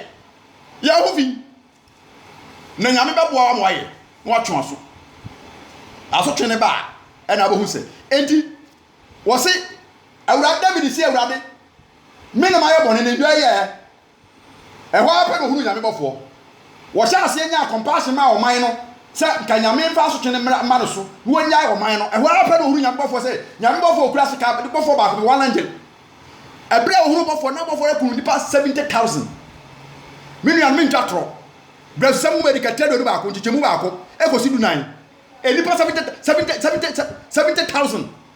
Yɛ wo ho fi na Nyame bɛboa wo ama woayɛ na woatwe w'aso. Asotwe no ba a, ɛna wobɛhu sɛ. Enti wɔse Awurade David se Awurade, me na mayɛ bɔne, na dua yɛ ɛ. Ɛhɔ ara pɛ na ɔhunuu Nyame bɔfoɔ. Wɔhyɛɛ aseɛ nyaa compassion maa ɔman no sɛ nka Nyame mfa asotwe no mmra mma no so na wɔnyae ɔman no. Ɛhɔ ara pɛ na ɔhunuu Nyame bɔfoɔ sɛ Nyame bɔfoɔ kura sekaa de bɔfoɔ baako bi, one angel. Ɛberɛ a ɔhunuu bɔfoɔ no, na bɔfoɔ no akum nnipa seventy thousand. Me nuanom mentwa atorɔ, Brɛsusɛm nwoma edi kan tire aduonu baako, nkyekyɛmu baako kɔsi dunan, nnipa seventy, seventy, seventy, seventy thousand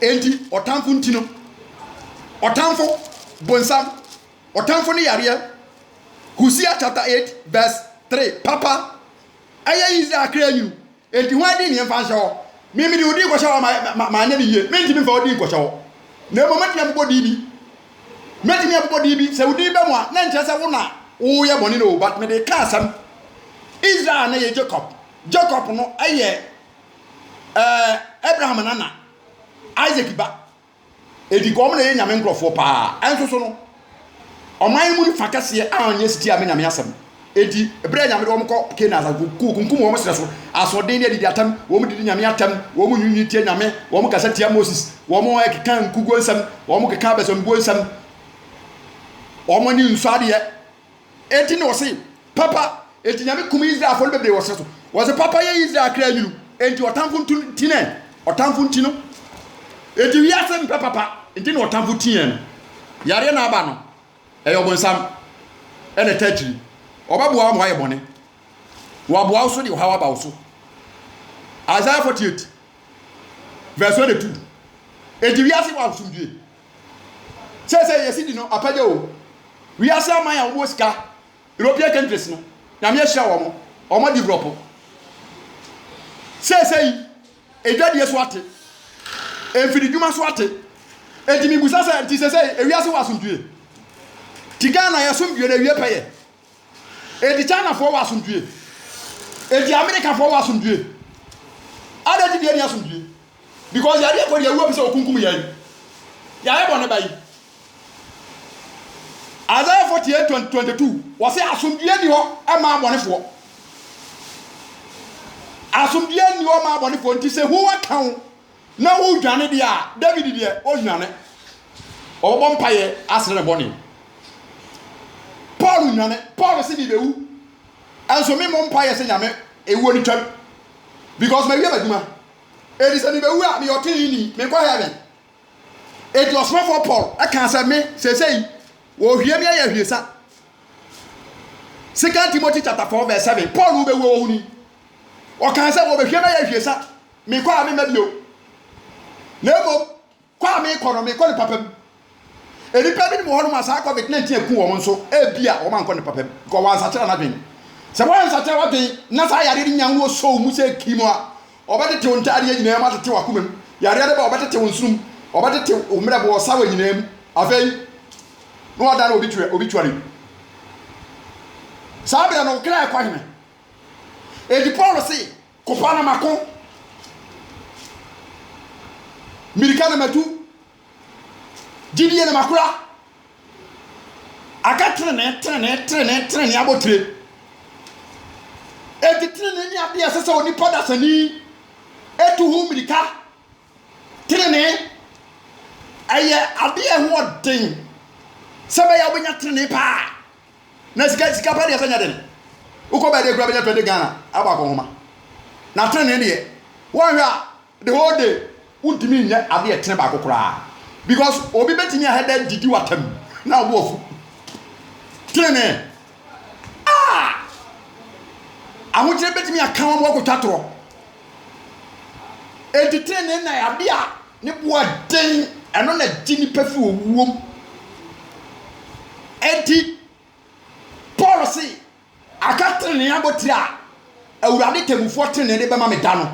Enti ɔtamfo nti no, ɔtamfo, bonsam, ɔtamfo ne yareɛ, Hosea chapter 8 verse 3, papa, ɛyɛ Israel kra nwunu, enti hwan din ne mfa nhyɛ hɔ? Me mede wo din kɔhyɛ hɔ a ma- ma- manyɛ no yie, mentumi mfa wo din nkɔhyɛ hɔ. Na mmom mɛtumi abobɔ din bi, mɛtumi abobɔ din bi, sɛ wo din bɛ mu a, na nkyerɛ sɛ wo na woyɛ bɔne no o, but mede ka asɛm, Israel no yɛ Jacob, Jacob no yɛ ɛɛ Abraham nana Isaac ba edi kɔ wɔn na ɛyɛ nyame nkurɔfoɔ paa ɛnso so no ɔman mu fa kɛseɛ a ɔnyɛ sitia me nyame asɛm edi ebere a nyame de wɔn kɔ kena asase ku kunkum wɔn srɛ so asoɔden ne adidi atam wɔn didi nyame atam wɔn nyinyi tia nyame wɔn kasa tia moses wɔn ɛkeka nkuguo nsɛm wɔn keka abɛsɛmbuo nsɛm wɔn ne nsu adeɛ Enti na ɔse, Papa, enti Nyame kum Israelfoɔ no bebree wɔ serɛ so. Ɔse, Papa yɛ Israel kra nwunu, enti ɔtamfo nto no nti nɛ? Ɔtamfo nti no, enti wiase mpɛ papa, nti na ɔtamfo ti yɛn no. Yareɛ na aba no, ɛyɛ ɔbonsam, ɛna ɛta akyiri. Ɔbɛboa wo ma woayɛ bɔne, na waboa wo so de ɔhaw aba wo so. Isaiah 48 vs 1 2 Enti wiase wɔ asomdwie. Sɛ sɛ yɛ sidi no apɛgya o. Wiase aman a wɔn wɔ sika, European countries no, Nyame ahyira wɔn, wɔn adi brɔpo. Sɛ sɛ yi, edwadie so ate, mfidi dwuma so ate. Enti mibusa sɛ, nti sɛ sɛ ewiase wɔ asomdwie? Ti Ghana yɛ somdwie na ewie pɛyɛ. Edi Chinafoɔ wɔ asomdwie? Edi Amerikafoɔ wɔ asomdwie? Adɛn nti na yɛnni asomdwie? Because yɛadeɛ kɔ deɛ awuo bi sɛ ɔkunkum yɛn. Yɛayɛ bɔne ba yi. Isaiah 48 22 wɔsɛ asomdwie ni hɔ ɛma abɔnefoɔ. Asomdwie ni hɔ ma abɔnefoɔ nti sɛ hu aka wo. Na wodwane deɛ a, David deɛ, ɔnnwane. Ɔbɛbɔ mpaeɛ asrɛ ne bɔne. Paul nnwane. Paul se mebɛwu, nso me mmɔ mpaeɛ sɛ Nyame ewuo no twam, because mawie m'adwuma. Enti sɛ mebɛwu a, meyɛ ɔteneneeni, menkɔ heaven. Enti ɔsomafoɔ Paul kaa sɛ me, seesei, wɔhwie me ayɛ ahwiesa. Second Timothy chapter 4 verse 7, Paul wobɛwuo wɔ ho ni. Ɔkaa sɛ wɔbɛhwie me ayɛ ahwiesa, Mekɔ a memma bio. Na mmom kɔ a mekɔ no, mekɔ no papa mu. Nnipa binom wɔ hɔnom a saa Covid 19 aku wɔn nso, ebia wɔankɔ no papa mu, because wɔansakyera wɔn adwene. Sɛ woansakyera w'adwene na saa yareɛ no nya wo sɔ wo mu sɛ kirim a, ɔbɛtete wo ntaadeɛ nyinaa mu, atete w'akoma mu. Yareɛ no ba a, ɔbɛtete wo nsono mu, ɔbɛtete wo mmerɛbo, ɔsawa nyinaa mu. Afei, na wɔada no wɔ obituary mu. Saa berɛ no, wo kra rekɔ he? Enti Paul se, Kofa na mako Mirika na matu Gyidie na makora Aka trenee, trenee, trenee, trenee abotire Enti trenee ne adeɛ a ɛsɛ sɛ onipa dasani tu ho mirika Tenenee, ɛyɛ adeɛ a ɛho ɔden sɛ ɛbɛyɛ a wobɛnya tenenee paa na sika sika pɛ deɛ sɛ nyɛ den wokɔ baadeɛ kura bɛnya 20 Ghana abɔ akɔnhoma na tenenee deɛ wɔnhwɛ a the whole day wontumi nyɛ adeɛ ɛtene baako koraa because obi bɛtumi ahɛ dɛ didi watam na ɔbo afu tenenee a ahokyerɛ bɛtumi aka wɔn wɔkɔtwa torɔ Enti trenee na yɛ ade a ne bo yɛ den, ɛno na ɛgye nnipa fi owuo mu. Enti Paul se, aka trenee abotire a Awurade temmufoɔ trenee de bɛma me da no.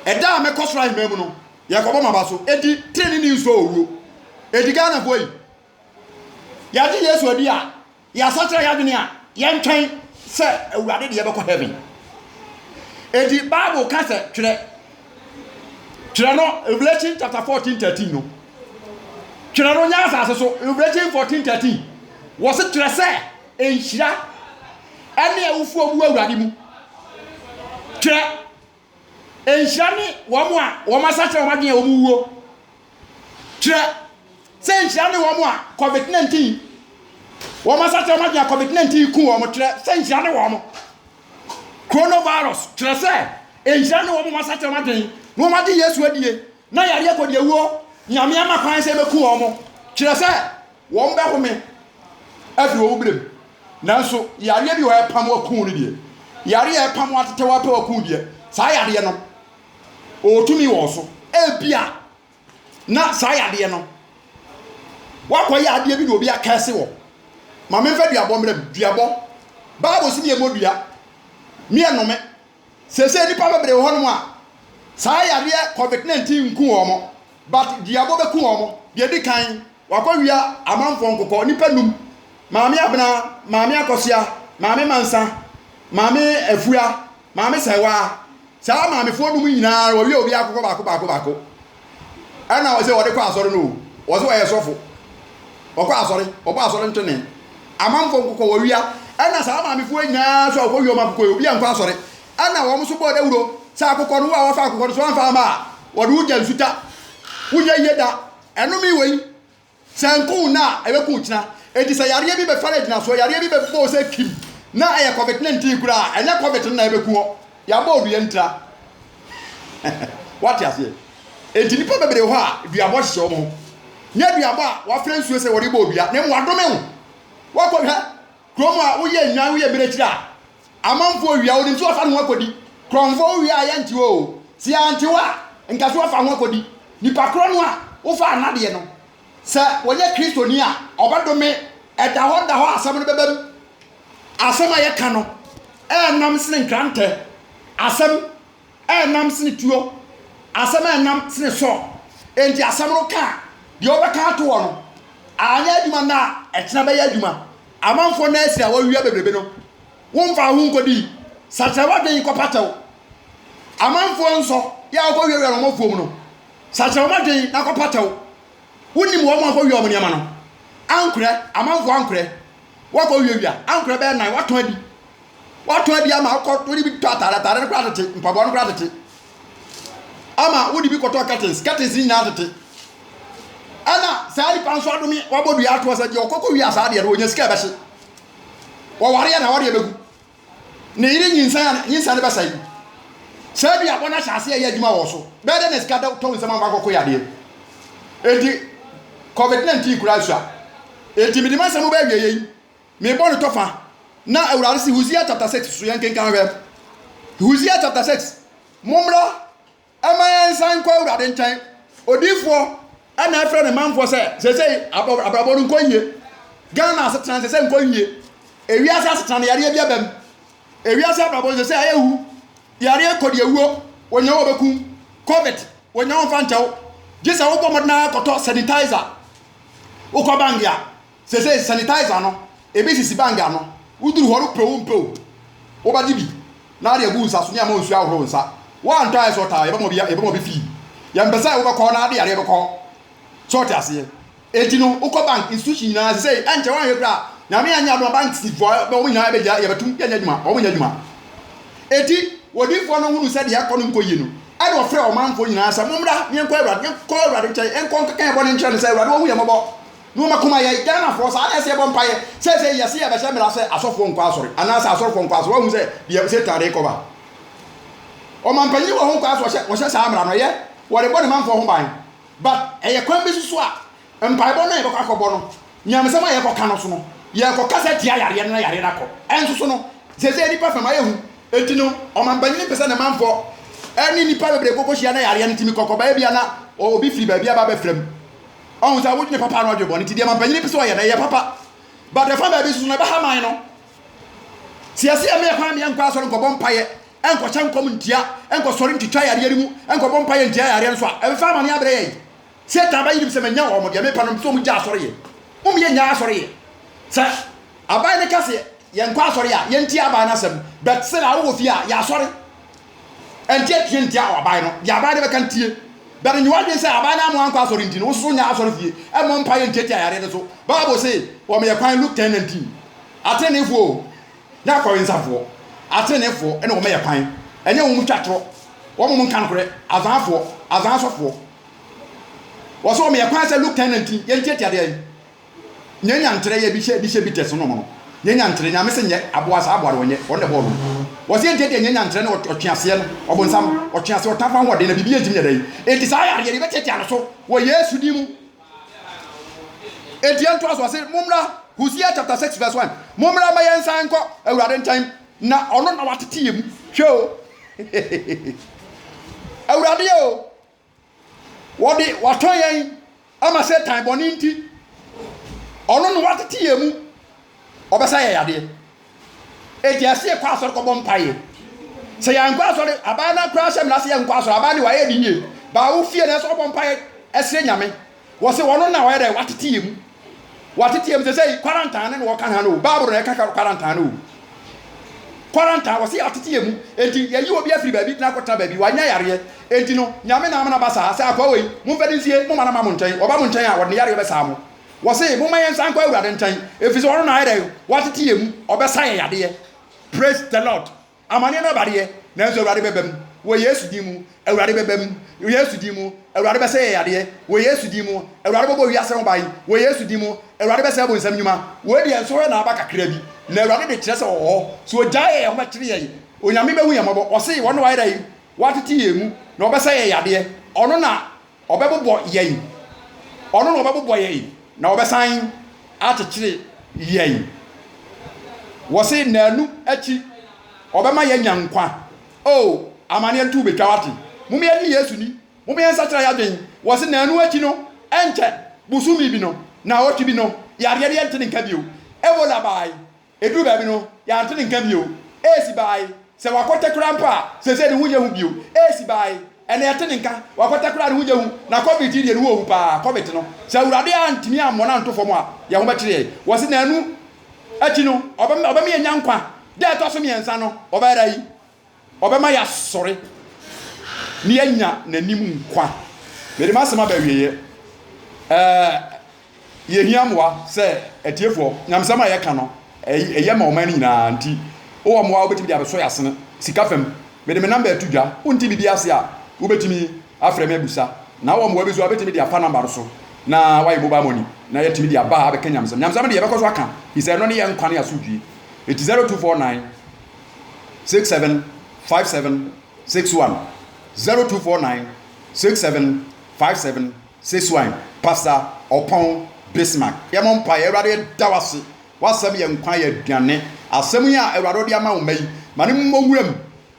Ɛda a mɛkɔ soro ahemman mu no, yɛkɔbɔ m'aba so. Enti treneeni nsɔ owuo. Enti Ghanafoɔ yi, yɛgye Yesu adi a, Yɛasakyera yɛn adwene a, yɛntwɛn sɛ Awurade de yɛbɛkɔ heaven. Enti Bible ka sɛ twerɛ. Twerɛ no Revelation chapter 14 13 no. Twerɛ no nyɛ asase so Revelation 14 13. Wɔse twerɛ sɛ nhyira ɛne awufoɔ mu wɔ Awurade mu. Twerɛ. Nhyira ne wɔn a wɔasakyera wɔn adwene a wɔwuo. Kyerɛ sɛ nhyira ne wɔn a COVID-19 wɔasakyera wɔn adwene a COVID-19 ku wɔn. Kyerɛ sɛ nhyira ne wɔn. Coronavirus kyerɛ sɛ nhyira ne wɔn a wɔasakyera wɔn adwene na wɔagye Yesu adie na yareɛ kɔdiawuo Nyame ama kwan sɛ ɛbɛku wɔn. Kyerɛ sɛ. Wɔbɛhome afiri wɔn berɛ mu. Nanso yareɛ bi wɔ hɔ a ɛpam waku no deɛ, yareɛ a ɛpam atetɛw apɛ waku deɛ, saa yadeɛ no, ɔwɔ tumi wɔ wo so. Ebia na saa yadeɛ no, woakɔyɛ adeɛ bi na obi akɛse wɔ. Ma memfa duabɔ mmrɛ mu. Duabɔ, Bible se meɛmmɔ dua, meɛnnome. Seesei nnipa bebree wɔ hɔnom a saa yadeɛ covid 19 nku wɔn but duabɔ bɛku wɔn. Deɛ ɛdi kan, wɔakɔwia amanfoɔ nkokɔ, nnipa nnum, Maame Abena, Maame Akɔsoa, Maame Mansa, Maame Afua, Maame Sɛwaa. Saa maamefoɔ nnum yi nyinaa wɔawia obiara akokɔ baako baako baako. ɛna ɔsɛ wɔde kɔ asɔre no o ɔsɛ ɔyɛ sɔfo ɔkɔ asɔre ɔbɔ asɔre ntwene amanfoɔ nkokɔ wɔ wia ɛna saa maamefoɔ nyinaa so a ɔkɔ wiɔm akokɔ yi obi ankɔ asɔre ɛna wɔn so bɔɔ dawuro sɛ akokɔ no wo a wafa akokɔ no so amfa ama a wɔde wogya nsuta wonyɛ yie da ɛnome wei Sɛ nko wo nna a, ɛbɛko wo kyena. Enti sɛ yareɛ bi bɛfare agyinasoɔ, yareɛ bi bɛbɔ wo sɛ kim, na ɛyɛ covid ne ntin koraa a, ɛnyɛ covid no na ɛbɛku hɔ. Yɛabɔ wo dua ntira. Woate aseɛ? Enti nnipa bebree wɔ hɔ a, duabɔ hyehyɛ wɔn ho. Nyɛ duabɔ a wɔafra nsuo sɛ wɔrebɔ wo dua, na mmom wɔadome wo. Woakɔhwɛ? Kurom a woyɛ nnwan woyɛ mmirekyiri a amanfoɔ wia wonim sɛ wɔfa ne ho akɔdi korɔnfoɔ wowia a yɛnte hɔ o sɛ yɛante hɔ a nka sɛ wɔfa ho akɔdi nipa korɔ no a wofa anadeɛ no sɛ wɔnyɛ kristoni a ɔbɛdome ɛda hɔ da hɔ asɛm no bɛbam asɛm a yɛka no ɛnam sene nkrantɛ asɛm a ɛnam sene tuo, asɛm a ɛnam sene sɔ, enti asɛm no ka a, deɛ wobɛka ato hɔ no, anyɛ adwuma nnɛ a, ɛkyena bɛyɛ adwuma. Amanfoɔ nna asini a wɔawia bebrebe no, womfaa ho nkɔdii. Sakyera w'adwene kɔpa kyɛw. Amanfoɔ nsɔ yɛ a wokɔwiawia no wɔn afuom no, sakyera wɔn adwene na kɔpa kyɛw. Wonim wɔn a wɔakɔwia wɔn nneɛma no ankorɛ, amanfoɔ ankorɛ, wɔakɔwiawia ankorɛ bɛyɛ nnan, wɔatɔn adi. Woatɔ adi ama wokɔ wode bi tɔ atade, atade no koraa tete, mpaboa no koraa tete. Ama wode bi kɔtɔ curtains, curtains no nyinaa tete. Ɛna saa nipa nso adome wabɔ dua atoɔ sɛ deɛ ɔkɔkɔ wia saa deɛ no ɔnya sika ɛbɛhye. Wɔwareɛ na wɔdeɛ bɛgu. Ne yere nyinsɛn a nyinsɛn no bɛsɛe. Saa duabɔ no ahyɛ aseɛ ɛyɛ adwuma wɔ so. Bɛyɛ dɛ na sika da tɔ nsɛm ama kɔkɔ yadeɛ. Enti COVID-19 koraa sua. Enti mede m'asɛm bɛawie yei. Me bɔ no tɔfa na awurade se Hosea chapter six so yɛn kenkan hwɛ Hosea chapter six mommra ɛma yɛn nsan nkɔ awurade nkyɛn odiifoɔ ɛna ɛfrɛ ne manfoɔ sɛ sɛsɛi abrabɔ no nkɔ yie Ghana asetena sɛsɛ nkɔ yie ewiase asetena no yareɛ bi abam ewiase abrabɔ no sɛsɛ ayɛ wu yareɛ kɔ deɛ wuo wɔnyɛ wɔ bɛkum covid wɔnyɛ wɔn fa nkyɛw gye sɛ wobɔ mmɔden akɔtɔ sanitizer wokɔ bank a Sesei sanitizer no ebi sisi bag ano, woduru hɔ no pɛ o mpɛ o wobɛgye bi na wode agu wo nsa so ne ama nsuo ahohoro wo nsa. Woantɔ ayɛ sɛ ɔtaa a yɛbɛma bi yɛbɛma bi fee, yɛmpɛ sɛ wobɛkɔ na ade yareɛ bɛkɔ hɔ so ɔte aseɛ. Enti no wokɔ bank, institution nyinaa sesei ɛnkyɛ woanhwɛ koraa a Nyame anyɛ adom a bank si foɔ bɛ wɔn nyinaa bɛgya yɛbɛtum yɛnyɛ adwuma wɔn nyɛ adwuma. Enti wɔdifoɔ no hunu sɛ deɛ ɛkɔ no nkɔ yie no ɛna ɔfrɛ ɔmanfoɔ nyinaa sɛ mommra ne yɛnkɔ awurade yɛnkɔ awurade nkyɛn yɛnkɔ nkɛka yɛn bɔne nkyerɛ no sɛ awurade wahu yɛn mmɔbɔ. Na wɔn akoma yɛ Ghanafoɔ saa na ɛsɛ yɛbɔ mpaeɛ. Seesei yɛse yɛbɛhyɛ mmara sɛ asɔfoɔ nkɔ asɔre anaa sɛ asɔrefoɔ nkɔ asɔre. Woahu sɛ deɛ Satan rekɔba. Ɔmanpanyin wɔ ho kwan sɛ ɔhyɛ ɔhyɛ saa mmara no ɛyɛ wɔrebɔ ne manfoɔ ho ban but ɛyɛ kwan bi so a mpaebɔ no a yɛbɛkɔ akɔbɔ no nyamesɛm a yɛkɔka no so no yɛkɔkasa tia yareɛ no na yareɛ no akɔ ɛnso so no seesei nipa fam ayɛ hu enti no ɔmanpanyin mpɛ sɛ ne manfoɔ ɛne nipa bebree kɔkɔhyia na yareɛ no tumi kɔkɔba ebia na obi firi baabi aba abɛfra mu Ɔhu sɛ wodwene papa no adwene bɔne nti deɛ ma mpanyin pɛ sɛ ɔyɛ no ɛyɛ papa. But ɛfa baabi nso no ɛbɛha man no. Sɛ yɛsi yɛn ma yɛ kwan ma yɛnkɔ asɔre nkɔbɔ mpaeɛ, ɛnkɔhyɛ nkɔm ntia, ɛnkɔsɔre ntwitwa yareɛ no mu, ɛnkɔbɔ mpaeɛ ntia yareɛ nso a, ɛbɛfa amane abrɛ yɛn. Satan bɛyi nim sɛ manya wɔn, deɛ mepɛ no mepɛ sɛ wɔn gya asɔre yɛ. Wɔn yɛ nya asɔre yɛ. Sɛ aban no ka sɛ yɛnkɔ asɔre a, yɛntie aban no asɛm. But sɛ na awowɔ fie a, yɛasɔre. Ɛnteɛ tie nteɛ a wɔabae no, deɛ abae no bɛka ntie. Bɛde nyi w'adwene sɛ abae no ama wankɔ asɔre nti no, wo nso so nyɛ asɔre fie mmɔ mpaeɛ ntiatia yareɛ no so. Bible se wɔma yɛ kwan, Luke ten nineteen. Ateneneefoɔ o, ne akɔwensafoɔ, ateneneefoɔ na wɔma yɛ kwan, ɛnyɛ wɔn twa torɔ, wɔn nka nokorɛ, azanfoɔ, azansɔfoɔ. Wɔse wɔma yɛ kwan sɛ, Luke ten nineteen, yɛntiatia deɛn? Nyɛ nya nkyerɛ yɛ bi hyɛ bi hyɛ bi tɛ so no no nyɛ nya nkyerɛ nyame se nyɛ aboa saa aboa no ɔnyɛ ɔno na ɛbɔɔ no no wɔse ɛnteɛ deɛ nyɛ nya nkyerɛ ne ɔtweaseɛ no ɔbonsam ɔtweaseɛ ɔtamfo ahoɔden na biribiara ntimi nyɛ dɛn enti saa yareɛ no yɛbɛtiatia no so wɔ Yesu din mu enti ɛntoa so ɔse mommra Hosea chapter 6 verse 1 mommra ma yɛn nsan nkɔ awurade nkyɛn na ɔno na watete yɛ mu hwɛ o awurade o Wɔde watɔ yɛn ama Satan bɔne nti. Ɔno na watete yɛn mu. Ɔbɛsa yɛn yadeɛ. Eti ɛsɛ yɛkɔ asɔre kɔbɔ mpaeɛ. Sɛ yɛankɔ asɔre, abaa no koraa hyɛ mmara sɛ yɛnkɔ asɔre. Abaa de wayɛ ne yie. Baa wo fie na ɛsɛ ɔbɔ mpaeɛ ɛsrɛ Nyame. Wɔse ɔno na ɔyɛ dɛn watete yɛ mu watete yɛ mu sɛsɛi quarantine ne na ɔka ha no bible na ɛka quarantine no o quarantine wɔse yɛatete yɛ mu enti yɛyi obi afiri baabi na akɔtena baabi wanya yareɛ enti no nyame na ama no aba saa sɛ akoa wei momfa no nsie moma no ma mo nkyɛn ɔba mo nkyɛn a wɔde ne yareɛ bɛsaa mo wɔse momma yɛn nsan kɔ awurade nkyɛn ɛfiri sɛ ɔno na ayɛ dɛn watete yɛ mu ɔbɛsa yɛ yadeɛ praise the lord Amaneɛ no aba deɛ, nanso Awurade bɛba mu, wɔ Yesu din mu, Awurade bɛba mu, wɔ Yesu din mu, Awurade bɛsɛ yɛn yadeɛ, wɔ Yesu din mu, Awurade bɛbɔ wiase ho ban, wɔ Yesu din mu, Awurade bɛsɛe abonsam nnwuma. Wei deɛ nso hɔ na aba kakra bi, na Awurade de kyerɛ sɛ ɔwɔ hɔ, sɛ ɔgyae yɛn a ɔbɛkyere yɛn, Onyame bɛhu yɛn mmɔbɔ, ɔse wɔn na wɔayɛ dɛn? wɔatete yɛn mu, na wɔbɛsɛ yɛn yadeɛ, ɔno na Ɔbɛbobɔ yɛn, Ɔno na ɔbɛbobɔ yɛn na ɔbɛsan akyekyere yɛn. Wɔse naanu akyi ɔbɛma yɛanya nkwa. Oh, amaneɛ nto bɛtwa wate. Mom yɛnye Yesu ni, mom yɛn nsakyera yadwen. Wɔse naanu akyi no, ɛnkyɛ, bosome bi no, naawɔtwe bi no, yareɛ no yɛnte ne nka bio. Ebola baae, Eduu baabi no, yɛante ne nka bio. Esi baae sɛ wakɔtɛ koraa mpo a, seesei ne ho nyɛ hu bio. Esi baae, ɛnna yɛte ne nka, wakɔtɛ koraa a, ne ho nyɛ hu. Na Covid yi deɛ, ne ho ɔhu paa. Covid no, sɛ Awurade antumi ammɔ no anto fam a, yɛn ho bɛkyere yɛn. Wɔse nnanu akyi no, ɔbɛma yɛanya nkwa da a ɛtɔ so mmiɛnsa no, ɔbɛyera yi. Ɔbɛma yɛasɔre na yɛanya n'anim nkwa. Mede m'asɛm aba awieɛ. Ɛɛ, yɛhia mmoa sɛ atiefoɔ. Nyamesɛm a yɛka no, ɛyɛ ma ɔman no nyinaa. Nti, wowɔ mmoa a wobɛtumi de abɛsɔ yɛn asene? Sika fam, mede me namba reto dwa. Wonte biribi ase a, wobɛtumi afrɛ me abusa. Na wowɔ mmoa bi nso a, wobɛtumi de afa namba no so na woayɛ mobile money na yɛatumi de aba abɛka nyamesɛm. Nyamesɛm no deɛ, yɛbɛkɔ so aka, ɛfiri sɛ ɛno ne yɛn nkwa ne yɛn asomdwoeɛ. Enti 0249 675761 0249 675761 Pastor Ɔpɔn Bismark yɛ mo mpaeɛ Awurade yɛda wo ase w'asɛm yɛ nkwa yɛ aduane asɛm yi a Awurade wode ama wo mma yi ma no mmɔ wuram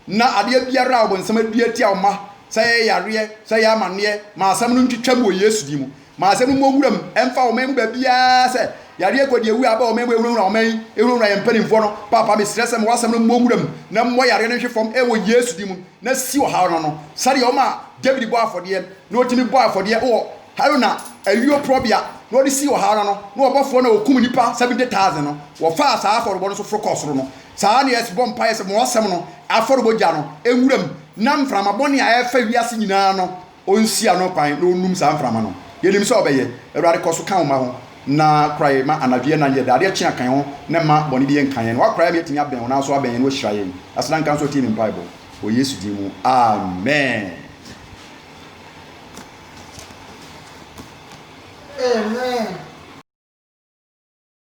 na adeɛ biara a ɔbonsam adua atia wo mma sɛ ɛyɛ yareɛ sɛ ɛyɛ amaneɛ ma asɛm no ntwitwam wɔ Yesu din mu Ma asɛm no mmɔ nwura mu mfa ɔman yi mu baabiara sɛ, Yareɛ kɔ deɛ awuo a aba ɔman mu ɛhunahuna ɔman yi, ɛhunahuna yɛn mpaninfoɔ no. Paapa mesrɛ sɛ ma w'asɛm no mmɔ nwura mu na mmɔ yareɛ no nhwe fam wɔ Yesu din mu na si ɔhaw no ano sɛdeɛ ɔmaa David bɔɔ afɔdeɛ na ɔtumi bɔɔ afɔdeɛ wɔ Haruna ayuoporɔbea na ɔde sii ɔhaw no ano na ɔbɔfoɔ no a ɔkum nnipa 70,000 no wɔfaa saa afɔrebɔ no so foro kɔɔ soro no. Saa na yɛbɔ mpaeɛ sɛ ma w'asɛm no afɔrebɔ gya no nwura mu na mframa bɔne a ɛrefa wiase nyinaa no Ɔnsi ano kwan na ɔnnum saa mframa no. Yɛnim sɛ Ɔbɛyɛ. Awurade, kɔ so ka Wo mma ho, na kora yɛn ma anadwo yɛ na yɛ dadeɛ kye akan ho, na mma bɔne biara nka yɛn. Na Woakora yɛn ma yɛatumi abɛn Wo, nanso abɛn yɛn no Woahyira yɛn. Aseda nka Wo sɛ Wotie me mpaebɔ. Wɔ Yesu din mu, amen. Amen.